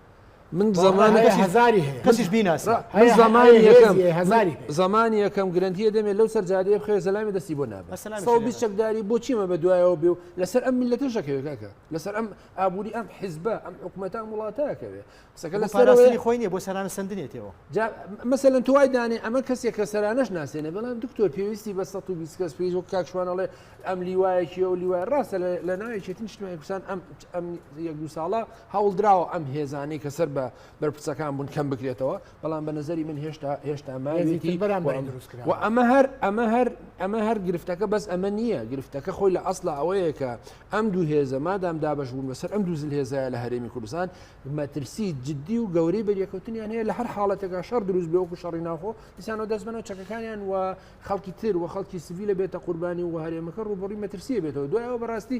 من زمانی هزاری هەیە کەسیش بیناسە من زمانی یەکەم هزاری زمانی یەکەم گرنتیە دەمێت لەو سەر جادەیە بخێ زەلامی دەستی بۆ نابێت سەڵ بیست چەکداری بۆچیمە بە دوایەوە بێ و لەسەر ئەم میلەتە شەکەوێکەکە لەسەر ئەم ئابووری ئەم حیزبە ئەم حکوومەتان وڵاتەکەوێ قسەکە لە سەرەوەی خۆی نیە بۆ سەرانە سندنێتەوە مەسەلەن توای دانێ ئەمە کەسێک کە سەرانەش ناسێنە بەڵام دکتۆر پێویستی بە 120 کەس پێیز و کاکشوانەڵێ ئەم لیوایەکی و لیوای ڕاستە لە ناوێکێتن شتمای کوسان ئەم ئەم یەک دو ساڵە هەوڵدراوە ئەم هێزانەی کە سەر بە بەرپرسەکان بوون کەم بکرێتەوە بەڵام بە نظری من هێشتا هێشتا ماوێتی و ئەمە هەر ئەمە هەر ئەمە هەر گرفتەکە بەس ئەمە نییە گرفتەکە خۆی لە ئەسڵ ئەوەیە کە ئەم دوو هێزە مادام دابش بوون بەسەر ئەم دوو زل هێزایە لە هەرێمی کوردستان مەترسی جددی و گەورەی بەریەکەوتنیان هەیە لە هەر حاڵەتێکا شەر دروست بێ وەکو شەڕی ناخۆ دیسانەوە دەست بنەوە چەکەکانیان و خەڵکی تر و خەڵکی سڤی لە بێتە قوربانی و هەرێمەکە ڕوبڕی مەترسیە بێتەوە دوایەوە بەڕاستی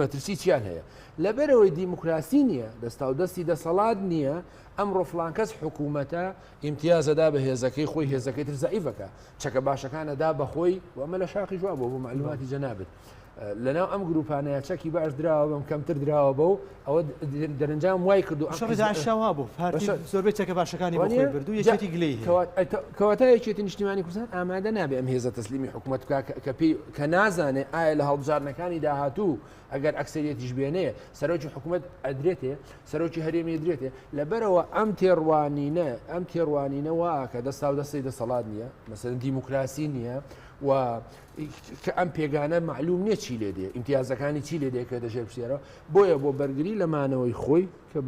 مەترسی چیان هەیە؟ لەبەرئەوەی دیموکراسی نیە، دەستاودەستی دەسەڵات نیە، ئەمڕۆ فڵان کەس حکومەتە، ئیمتیاز ئەدا بە هێزەکەی خۆی، هێزەکەی تر زەعیف ئەکا، چەکە باشەکان ئەدا بە خۆی، و ئەمە لە شاقیش وابووە بۆ مەعلوماتی جەنابت. لەناو ئەم گروپانەیا چەکی باش دراوە بەم، کەمتر دراوە بەو، ئەوە دەرنجام وای کردووە ئەم حیزبە. شەڕی داعشیشا وابوو، پارتی زۆربەی چەکە باشەکانی بۆ خۆی برد و یەکێتی گلەی هەیە. کەواتە یەکێتی نیشتیمانی کوردستان ئامادە نابێ ئەم هێزە تەسلیمی حکومەت بکا کە پێی، کە نازانێ ئایا لە هەڵبژاردنەکانی داهاتوو ئەگەر ئەکسریەتیش بێنێ سەرۆکی حکوومەت ئەدرێتێ سەرۆکی هەرێمی درێتێ لەبەرەوە ئەم تێڕوانینە ئەم تێڕوانینەوە کە دەستا و دەستی دەسەڵات نییە مەسەر دیموکراسی نییە و کە ئەم پێگانە معلوم نییە چی لێ دێ ئیمتیازەکانی چی لێ دێکە دەژێر پسیێرەوە بۆیە بۆ بەرگری لە مانەوەی خۆی کە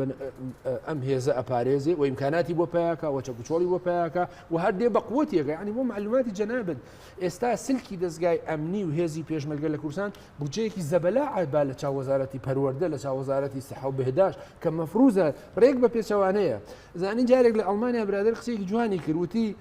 ئەم هێزە ئەپارێزێ و ئیمکاناتی بۆ پیاکە وە چەکوچۆڵی بۆ پیاکە و هەردێ بە قوتیەکە ینی بۆ معلوماتی جەنابێت ئێستا سلکی دەزگای ئەمنی و هێزی پێشمەرگە لە کوردستان بودجەیەکی زەبەلاحە با لە چاو وەزارەتی پەروەردە لە چاو وەزارەتی سیحە و بهداشت کە مەفروزە ڕێک بە پێچەوانەیە زانی جارێک لە ئەڵمانیا برادر قسەیەکی جوانی کرد وتی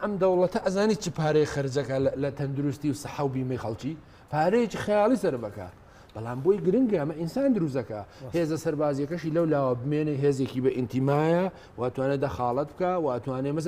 ئەم دەوڵەتە ئەزانی چ پارەی خرجەکە لە تەندروستی و سەحە و بیمەی خەڵکی پارەیەکی خەیاڵی سەر بەکە بەڵام بۆی گرنگە ئەمە ئینسان دروزەکە هێزە سەربازیەکەشی لەو لاوە بمێنێ هێزێکی بە ئینتیمایە واتوانێت دەخاڵت بکە واتوانێ مەز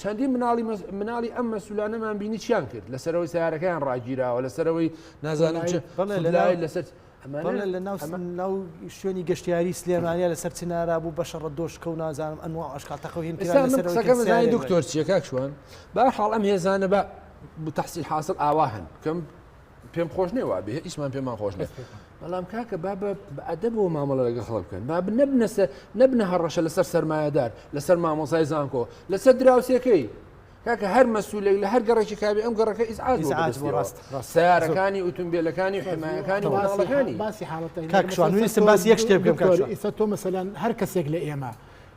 چەندین مناڵی مناڵی ئەم مەسولانەمان بینی چیان کرد لە سەرەوەی سیارەکەیان ڕاگیراوە لە سەرەوەی نازانم لای لەسەر ئەمانە لە ناو شوێنی گەشتیاری سلێمانیا لەسەر چنارا بوو بە شەڕە دۆشکە و نازانم ئەنوا عشقا تەخەوهێن دکتۆر چیەکە شوان با حاڵ ئەم هێزانە بە تحصیل حاصل ئاوا هەن بکەم پێم خۆش نێ وابێ هیچمان پێمان خۆش نێ بەڵام کاکە با بە ئەدەبەوە مامەڵە لەگە خەڵ بکەن با نەبنەسە نەبنە هەڕەشە لەسەر سەرمایهدار لەسەر مامۆزای زانکۆ لەسەر دراوسەکەی کاکە هەر مەسوولێک لە هەر گەڕێکی کاوی ئەم گەڕەکە ئیسعاجڕاست سارەکانی ئوتمبیلەکانی حمایەکانی وڵاڵەکانی باسی حاڵەتەکان باسی یەک شتێ بکەم ئیستا تۆ مەسەلاەن هەر کەسێک لە ئێمە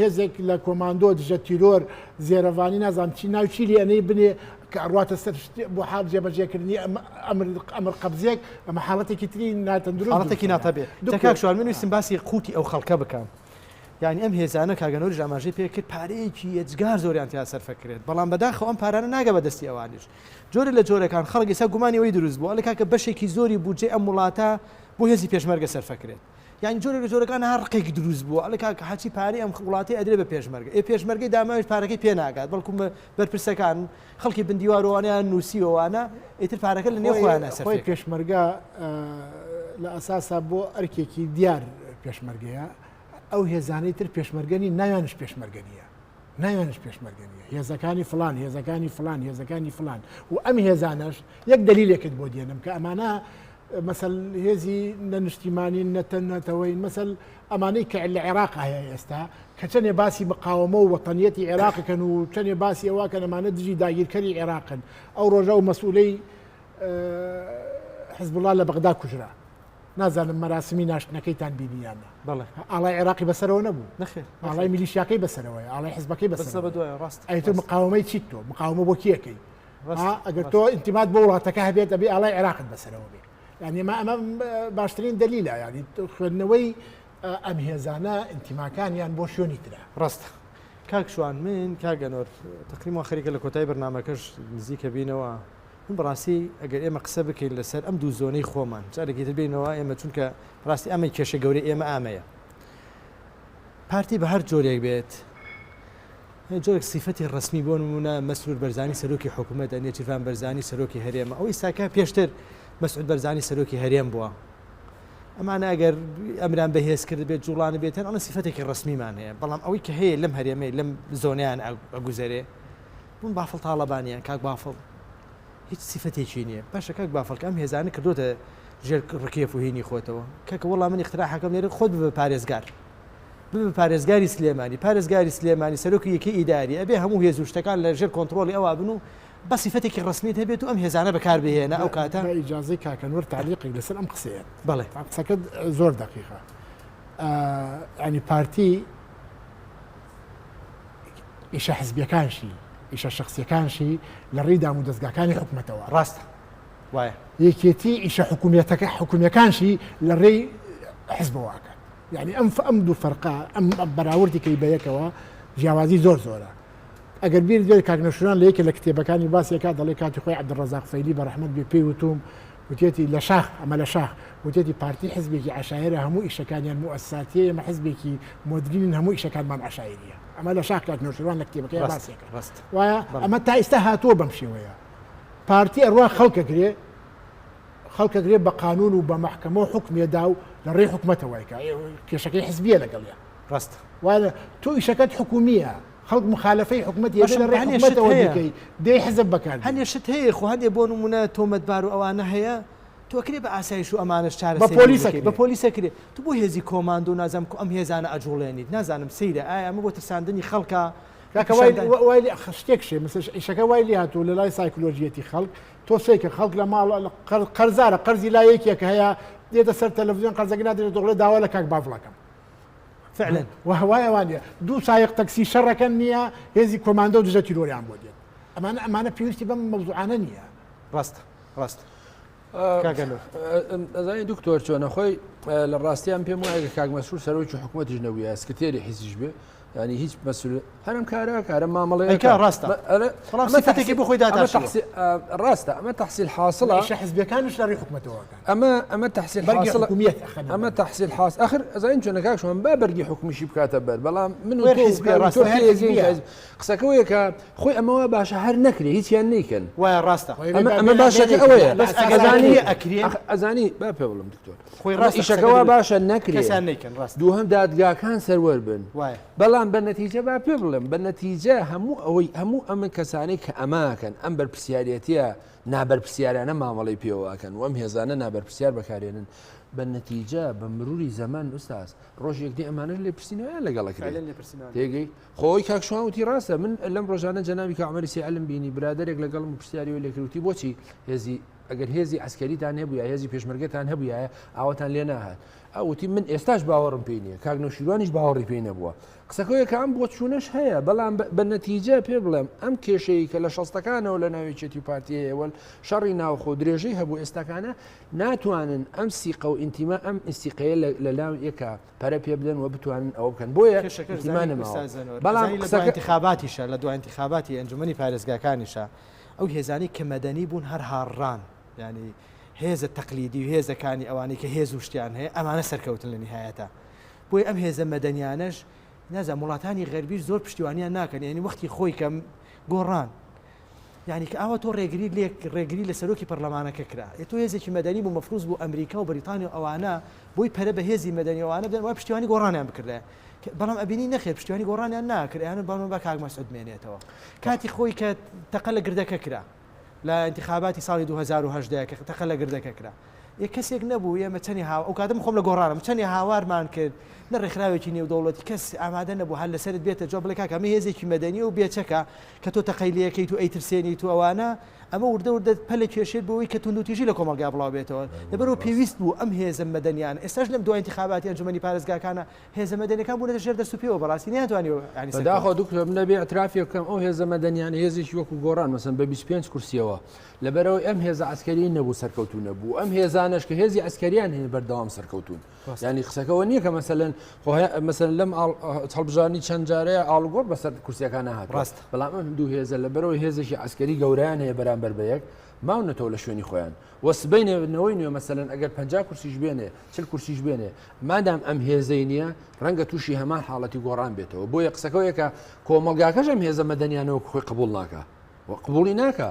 هێزێک لە کۆماندۆ دژە تیرۆر زێرەڤانی نازانم چی ناوی چی لێ ئەنێی بنێ کە ئەڕواتە سەر شت بۆ حاڵ جێبەجێکردنی ئەم ئەمر ئەمر قەبزێک ئەمە حاڵەتێکی تری ناتەندروست حاڵەتێکی ناتەبێ تکاک شوان من ویستم باسی قوتی ئەو خەڵکە بکەم یعنی ئەم هێزانە کاگەنەوەری ئاماژەی پێ کرد پارەیەکی یەجگار زۆریان تیا سەرفە کرێت بەڵام بەداخەوە ئەم پارانە ناگە بە دەستی ئەوانیش جۆرە لە جۆرەکان خەڵک ئێستا گومانی ئەوەی دروست بووە لە کاکە بەشێکی زۆری بودجەی ئەم وڵاتە بۆ هێزی پێشمەرگە سەرفە کرێت یانی جۆرێک لە جۆرەکان ها ڕقێکی دروست بووە ئەڵێ کاک حاجی پارەی ئەم وڵاتەی ئەدرێ بە پێشمەرگە ئێ پێشمەرگەی داماویش پارەکەی پێ ناگات بەڵکو بەرپرسەکان خەڵکی بن دیوارۆ وانەیان نووسیوە وانە ئیتر پارەکە لە نێو خۆیان نەسەر خۆی پێشمەرگە لە ئەساسا بۆ ئەرکێکی دیار پێشمەرگەیە ئەو هێزانەی تر پێشمەرگەنی ناویانش پێشمەرگەنیە ناویانش پێشمەرگەنیە هێزەکانی فلان هێزەکانی فلان هێزەکانی فلان و ئەم هێزانەش یەک دلیلێکت بۆ دێنم کە ئەمانە مەسەل هێزی نە نیشتیمانین نە تە نەتەوەین مەسەل ئەمانەی کە لە عێراق هەیە ئێستا کە چەندێ باسی مقاومە و وەتەنیەتی عێراقەکەن و چەندێ باسی ئەوە کە نەمانە دژی داگیرکەری عێراقن ئەو ڕۆژە و مەسئولەی حزبڵا لە بەغدا کوژرا نازانم مەراسمی ناشتنەکەیتان بینیانە بڵێ ئاڵای عێراقی بەسەرەوە نەبوو نەخێ ئاڵای میلیشیاکەی بەسەرەوەی ئاڵای حزبەکەی بەسەر بەدوای ڕاست ئەیتر مقاومەی چیت تۆ مقاومە بۆ کیەکەی ها ئەگەر تۆ ئینتیمات بۆ وڵاتەکە هەبێت دەبێ ئاڵای عێراقت بەسەرەوە بێ یعنی ما ئەمە باشترین دەلیلا یعنی خوێندنەوەی ئەم هێزانە ئینتیماکانیان بۆ شوێنی ترە ڕاستە کاکشوان من کاگەنۆر تقریمەوە خەریکە لە کۆتای بەرنمەکەش نزیکە بینەوە من بەڕاستی ئەگەر ئێمە قسە بکەین لەسەر ئەم دوو زۆنەی خۆمان جارێکی تر بینەوە ئێمە چونکە ڕاستی ئەمە کێشە گەورەی ئێمە ئامەیە پارتی بە هەر جۆرێک بێت جۆرێک سیفەتی ڕەسمی بۆ نموونە مەسرور بەرزانی سەرۆکی حکوومەتە، نێچیرڤان بەرزانی سەرۆکی هەرێمە، ئەو ئیستاکە پێشتر مەسعود بەرزانی سەرۆکی هەرێم بووە. ئەمانە ئەگەر ئەمران بەهێز کرد بێت جوڵان بێت هەر ئەڵە سیفەتێکی ڕسمیمان هەیە بەڵام ئەوەی کە هەیە لەم هەرێمەی لەم زۆنیان ئەگوزەرێ بوون بافڵ تاڵەبانیان کاک بافڵ هیچ سیفەتێکی نییە باشە کاک بافڵکە ئەم هێزانە کردوتە ژێر ڕکێف و هینی خۆتەوە کەکە وەڵام من اختراحەکەم لێرە خۆت بە پارێزگار ببە پارێزگاری سلێمانی پارێزگاری سلێمانی سەرۆکی یەکەی ئیداری ئەبێ هەموو هێز و شتەکان لە ژێر کۆنتڕۆڵی ئەوا بن و بە سیفەتێکی ڕەسمیت هەبێت و ئەم هێزانە بەکاربهێنە ئەو کاتە با ئیجازەی کاکە نوور تعلیقێک لەسەر ئەم قسەیە بەڵێ تا قسەکەت ئە، زۆر دقیقە ئە، ینی پارتی ئیشە حزبیەکانشی ئیشە شخصیەکانشی لە ڕێی دام و دەستگاکانی حکومەتەوە ڕاستە وایە یەکێتی ئیشە حکومیەتەکە حکومیەکانشی لە ڕێی حزبەوە ئەکات یعنی ئەم ئەم دوو فەرقا ئەم بەراوردی کەی بە یەکەوە جیاوازی زۆر زۆرە ئەگەر بیر دوێت کاک نەشران لە یەکە لە کتێبەکانی باسێکا دەڵێ کاتی خۆی عبدڕزاق فەیلی بە ڕحمد بێ پێی وتوم وتێتی لە شاخ ئەمە لە شاخ وتێتی پارتی حزبێکی عشاعرە هەموو ئیشەکانیان موساتیە ئێمە حزبێکی مدرین هەموو ئیشەکانمان عشاعریە ئەمە لە شاخ کاک نەشران لە کتێبەکەی باسێکە ڕست وایە ئەمە تا ئیستا هاتووە بەم شێوەیە پارتی ئەڕوا خەڵکەگرێ خەڵک ئەگرێ بە قانون و بە مەحکەمە و حوکمێ دا و لە ڕێی حکومەتە وای کا کێشەکەی حزبیە لەگەڵیا. ڕاستە. وانە تۆ ئیشەکەت حکومیە خەڵک مخالەفەی حکومەتی ئەبێ لە ڕێی حکومەتەوە بیکەی دەی حزب بەکار بێنی. هەنێ شت هەیە خۆ هەندێ بۆ نمونە تۆمەتبار و ئەوانە هەیە تۆ ئەکرێ بە ئاسایش و ئەمانەش چارەسەری بکەی. بە پۆلیس ئەکرێ. بە پۆلیس ئەکرێ. تۆ بۆ هێزی کۆماندۆ و نازانم کو ئەم هێزانە ئەجوڵێنیت نازانم سەیرە ئایا ئەمە بۆ ترساندنی خەڵکە؟ کاکە وای وای شتێک شێ ئیشەکە وای لێ هاتووە لە لای سایکلۆژیەتی خەڵک، تۆ سەیکە خەڵک لە ماڵ قەرزارە قەرزی لا یەکێک هەیە دێتە سەر تەلەڤزیۆن قەرزەکە نادێت دەڵێ داوا لە کاک بافڵەکەم فعلەن و هەوایەوان نیە دوو سایق تەکسی شەڕەکەن نییە هێزی کۆماندە و دژە تیرۆریان بۆ دێت ئەمانە ئەمانە پێویستی بەم مەوزوعانە نییە ڕاستە ڕاستە ئەزای دکتۆر چۆنە خۆی لە ڕاستیان پێم وایە کاک مەسرور سەرۆکی حکوومەتیش نەبووە سکرتێری حیزیش بێ ینی هیچ بەسل هەرم کارە کارە مامەڵێ ڕاستە ئەمەتێکی بۆ خۆی ڕاستە ئەمە تحصیل حاصل شە حزبەکان شاری حکومەتەوە ئەمە ئەمە تحصیل ئەمە تحصیل حاس ئەخر ئەزانین چۆنە کاکشمان با بەرگی حکومیشی بکاتە بەر بەڵام من قسەکە وەیەکە خۆی ئەمەوە باشە هەر نەکرێ هیچیان نیکەن وایە ڕاستە ئەمە باشەکە ئەوەیە ئەزانی با پێ بڵم دکتۆر خۆی ڕاستە قسەکە ئیشەکە وا باشە دروستە نەکرێ کەسیان نەیکەن ڕاستە دووهەم دادگاکان سەروەر بن وایە بەڵام بە نەتیجە با پێ بڵێم بە نەتیجە هەموو ئەوەی هەموو ئەمە کەسانەی کە ئەماکەن ئەم بەرپسیارەتە نابەرپسیارانە مامەڵی پێوەکەن وەم هێزانە نابەرپسیار بەکارێنن بە نەتیجە بە مروری زەمان ئوستاز ڕۆژێک دی ئەمانە لێ پرسیینەوەیان لەگەڵ فعلا کرێن لێپرسینەوە لێ. تێگەی خۆی کاکشوانوتی ڕاستە من لەم ڕۆژانە جەناوی کامەری سیعلم بینی برادێک لەگەڵم پرسیاری و لێکروتی بۆچی هێزی ئەگەر هێزی عەسکەریتان هەبوویایە، هێزی پێشمەرگەتان هەبوویایە، ئاواتان لێ ناهات. ئەو وتی، من ئێستاش باوەڕم پێی نییە. کاک نەوشیروانیش باوەڕی پێی نەبووە. قسەکۆیەکە ئەم بۆچوونەش هەیە، بەڵام بە نەتیجە پێ بڵێم، ئەم کێشەیەی کە لە شەستەکانەوە لە ناو یەکێتی و پارتی هەیە و شەڕی ناوخۆ و درێژەی هەبوو، ئێستاکانە ناتوانن ئەم سیقە و ئینتیما، ئەم سیقەیە لە لای یەکا پەرە پێ بدەن و بتوانن ئەوە بکەن. بۆیە ئینتیما نەماوە. بەڵام قسەکە. ئەزانی لە دوا ئینتیخاباتیشە، لە دوا ئینتیخاباتی ئەنجومەنی پارێزگاکانیشە، ئەو هێزانەی کە مەدەنی بوون هەر هاڕران یانی هێزە تەقلیدی و هێزەکانی ئەوانەی کە هێز و شتیان هەیە ئەمانە سەرکەوتن لە نیهایەتا بۆیە ئەم هێزە مەدەنیانەش نازانم وڵاتانی غەربیش زۆر پشتیوانیان ناکەن یانی وەختی خۆی کە گۆڕان یانی کە ئاوا تۆ ڕێگری لێک ڕێگری لە سەرۆکی پەرلەمانەکە کرا یە تۆ هێزێکی مەدەنی بوو مەفروز بوو ئەمریکا و بەریتانیا و ئەوانە بۆی پەرە بە هێزی مەدەنی ئەوانە بدەن وای پشتیوانی گۆڕانیان بکردایە بەڵام ئەبینی نەخێر پشتیوانی گۆڕانیان ناکرد ئەیانوت بەڵام با کاک مەسعود بمێنێتەوە کاتی خۆی کە تەقە لە گردەکە کرا لە انتخاباتی ساڵی 2010 کە تەقە لە گردەکە کرا یە کەسێک نەبوو ئێمە چەنی هاو ئەو کاتم خۆم لە گۆڕانم چەنی هاوارمان کرد نە ڕێکخراوێکی نێودەوڵەتی کەس ئامادە نەبوو هەر لەسرت بێتە جۆ بڵێ کاکە ئەمە هێزێکی مەدەنی و بێچەکە کە تۆ تەقەی لێکەیت و ئەیترسێنیت و ئەوانە، ئەمە وردە وردە پەلە کێشێت بۆوەی کە توندوتیژی لە کۆمەڵگا بڵاو بێتەوە. لەبەرئەوە پێویست بوو ئەم هێزە مەدەنیانە، ئێستاش لەم دوای ئینتخاباتی ئەنجومەنی پارێزگاکانە هێزە مەدەنیەکان بوونەتە ژێر دەست و پێوە بەڕاستی نەیانتوانیوە یانی سەرکەوتن بەداخەوە دکتۆر من ئەبێ ئیعترافێ بکەم ئەو هێزە مەدەنیانە هێزێکی وەکو گۆڕان مەسەن بە 25 کورسیەوە لەبەرەوەی ئەم هێزە عەسکەریەی نەبوو سەرکەوتوو نەبوو ئەم هێزانەش کە هێزی عەسکەریان هەیە بەردەوام سەرکەوتوون. ینی قسەکەەوە نییە کە مەسەن مەسەن لەم هەڵبژانی چەند جارەیە ئاڵگۆر بەسەر کورسەکان هاات ڕاست بەڵام دوو هێزە لە بەرەوە هێزێکی ئەسکەری گەوریان هەیە بەرامبەر بە یەک ماونەتەوە لە شوێنی خۆیان وەسبینەوەی نوێ مەسەن ئەگەر پ کورسیش بێنێ چل کورسیش بێنێ مادام ئەم هێزەی نییە ڕەنگە تووشی هەمان حاڵەتی گۆڕان بێتەوە بۆیە قسەکەەوەیەکە کۆمەلگاکەش ئەم هێزە مەدەنیانەوە خۆی قبول ناکە قبولی ناکە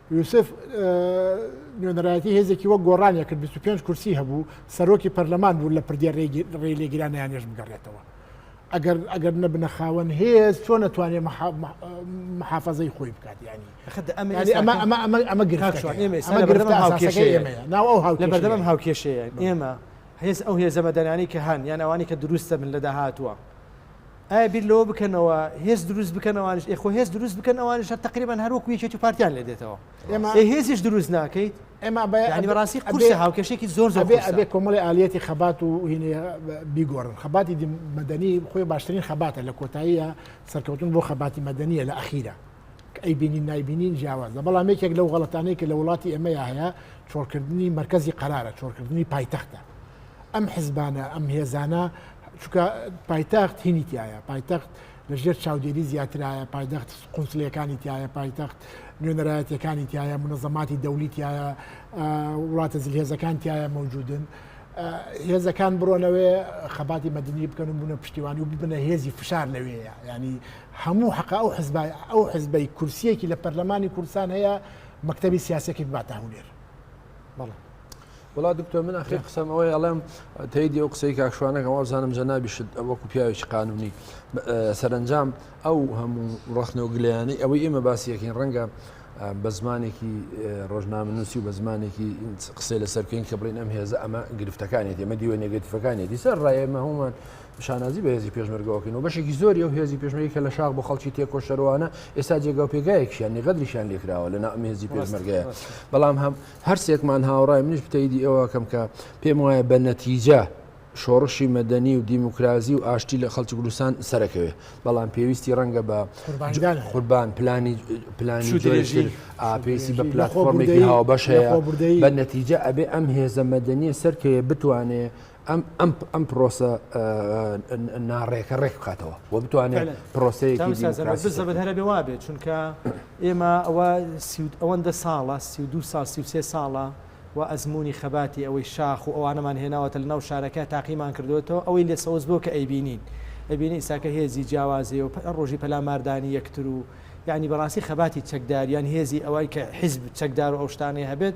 یوسف نوێنەرایەتی هێزێکی وەک گۆڕانە کرد 25 کورسی هەبوو سەرۆکی پەرلەمان بوو لە پردێ ڕێ لێگرانیانێش بگەڕێتەوە ئەگەر ئەگەر نەبنە خاوەن هێز چۆن نەتوانێ محافظەی خۆی بکات ینی ئەمە گرفتەبەردەم هاوکێشەیە ئێمە هێز ئەو هێزەمەدەرانی کە هەن یان ئەوانی کە دروستە من لە داهاتوە ئایا بیر لەوە بکەنەوە هێز دروست بکەن ئەوانیش ئێ خۆ هێز دروست بکەن ئەوانیش هەر تەقریبەن هەر وەکو یەکێتی و پارتیان لێ دێتەوە ئێمە ئێ هێزیش دروست ناکەیت ئێمە بە یانی ئەبێ- بەڕاستی قورسە ئەبێ- هاوکێشێکی زۆر زۆر ئەبێ قورسە. ئەبێ کۆمەڵی ئالیەتی خەبات و هینێ بیگۆڕن خەباتی دی- مەدەنی خۆی باشترین خەباتە لە کۆتاییە سەرکەوتن بۆ خەباتی مەدەنیە لە ئەخیرە ئەی بینین نایبینین جیاوازە بەڵام یەکێک لەو غڵەتانەی کە لە وڵاتی ئەمەیا هەیە چۆڵکردنی مرکزی قرارە چۆڵکردنی پایتەختە ئەم حزبانە ئەم هێزانە چکە پایتەخت هینی تایە پایتەخت لەژێر چاودێری زیاترایە پایدەخت قونسلەکانی تایە پایتەخت نوێنەرایەتەکانی تایە منەزەماتی دەولی تایە وڵاتە زلهێزەکان تایە مەوجودن. هێزەکان بڕۆنەوەێ خەباتی مەدنی بکەن و بوونە پشتیوانی و ببنە هێزی فشار لەوەیە ینی هەموو حەقە ئەو حزبە ئەو حزبەی کورسیەکی لە پەرلەمانی کوردستان هەیە مەکتەبی سیاسەکی بباتە هەولێر بەڵێ وڵا دکتۆر من ئەخی قسەم ئەوەی ئەڵێم تیدی ئەو قسەی کاکشوانەکە وازانم جەنابیشت وەکو پیاوێکی قانونی سەرنجام ئەو هەموو ڕخنە و گلیانی ئەوەی ئێمە باسیەکەین ڕەنگە بە زمانێکی ڕۆژنامە نووسی و بە زمانێکی قسەی لەسەر بکەین کە بڵین ئەم هێزە ئەمە گرفتەکانێتی ئەمە دیوە نێگەتیفەکانێتی سەر ڕایێمە هەومان شانازی بە هێزی پێشمەرگەوەکەین و بەشێکی زۆری ئەو هێزی پێشمەرگی کە لە شاخ بۆ خەڵکی تێکۆشەرەوانە ئێستا جێگا و پێگایەکیان نێغەدریشیان لێکراوە لە ناو هێزی پێشمەرگەیە بەڵام هەم هەرسێکمان هاوڕای منیش بتەیدی ئەوەکەم کە پێم وایە بە نەتیجە شۆڕشی مەدەنی و دیموکراسی و ئاشتی لە خەڵکی کوردستان سەرەکەوێ بەڵام پێویستی ڕەنگە بە قوربان پلانی پلانی درێژی ئاپێسی بە پلاتفۆرمێکی هاوبەش هەیە بە نەتیجە ئەبێ ئەم هێزە مەدەنیە سەرکەیە بتوانێ ئەم پرۆسە ناڕێکە ڕێک بکاتەوە و بتوانێت پرۆسەیەزەبەر هەرە بێ وابێت چونکە ئێمە ئەوە ئەوەندە ساڵە سی و دو سال سی سێ ساڵە و ئەزمموی خەباتی ئەوەی شاخ و ئەوانەمان هێناوەتە لە ناو شارەکە تاقیمان کردوێتەوە ئەوەی لێ سەوز بۆ کە ئەیبینین ئەبینی ئیساکە هێزی جیاوازێ و ڕۆژی پەلاماردانی یەکتر و یعنی بەڕاستی خەباتی چەکداریان هێزی ئەوەی کە حیزب چەکدار و ئەوشتانەی هەبێت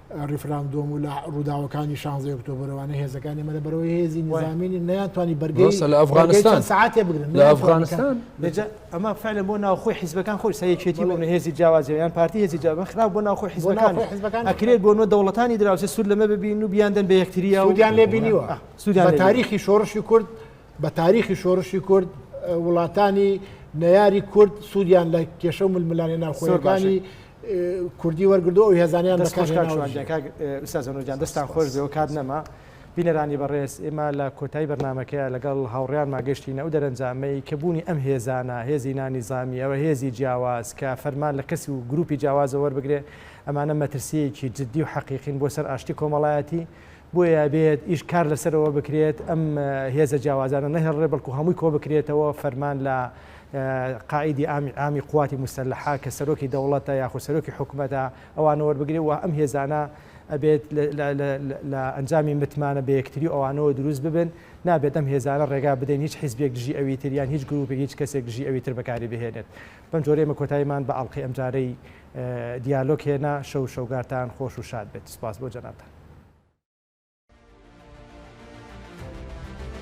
ریفراندۆم و لە ڕووداوەکانی شانزەی ئۆکتۆبرەوانە هێزەکانی مەە بەرەوەی هێزی نظامینی نیانتوانی بەرگەی لە ئەفغانستان ساعتێ بگرن لە ئەفغانستان لەجا ئەمە فعلە بۆ ناوخۆی حیزبەکان خۆی سەرێکێتی بۆ هێزی جیاوازیان پارتی هێزی جیاوە خراپ بۆ ناوخۆی حیزبەکان حیزبەکان ئەکرێت بۆ نۆ دەوڵەتانی دراوسێ سوود لەمە ببین و بیاندن بە یەکتریا ودیان لێ بینیوە سوودیان تاریخی شۆڕشی کورد بە تاریخی شۆڕشی کورد وڵاتانی نەیاری کورد سوودیان لە کێشە و ململانێ ناوخۆیەکانی کوردی وەرگردو ئەو هێزانەیان دەستان دەستان خۆش بێەوە کات نەما بینەرانی بەڕێز ئێمە لە کۆتایی بەرنمەکەیە لەگەڵ هاوڕیان ماگەشتینە ئەو دەرەنجامەی کە بوونی ئەم هێزانە هێزی نانی زامی ئەوە هێزی جیاواز کە فەرمان لە کەسی و گروپی جیاوازە وەربگرێ ئەمانە مەترسیەکی جددی و حەقیقین بۆ سەر ئاشتی کۆمەڵایەتی بۆیە ئەبێت ئیش کار لەسەر ئەوە بکرێت ئەم هێزە جیاوازانە نەهێڵرێ بەڵکو هەمووی کۆ بکرێتەوە فەرمان لە قائیدی ئامی ئامی قواتی مستەلحا کە سەرۆکی دەوڵەتە یاخود سەرۆکی حکوومەتە ئەوانە وەربگرێ و ئەم هێزانە ئەبێت لە ئەنجامی متمانە بە یەکتری ئەوانەوە دروست ببن نابێت ئەم هێزانە ڕێگا بدەین هیچ حیزبێک دژی ئەوی تر یان هیچ گروپێک هیچ کەسێک دژی ئەوی تر بەکاری بهێنێت بەم جۆرەیە مە کۆتاییمان بە ئەڵلقەی ئەمجارەی دیالۆگ هێنا شەو شەوگارتان خۆش و شاد بێت سوپاس بۆ جەنابتان.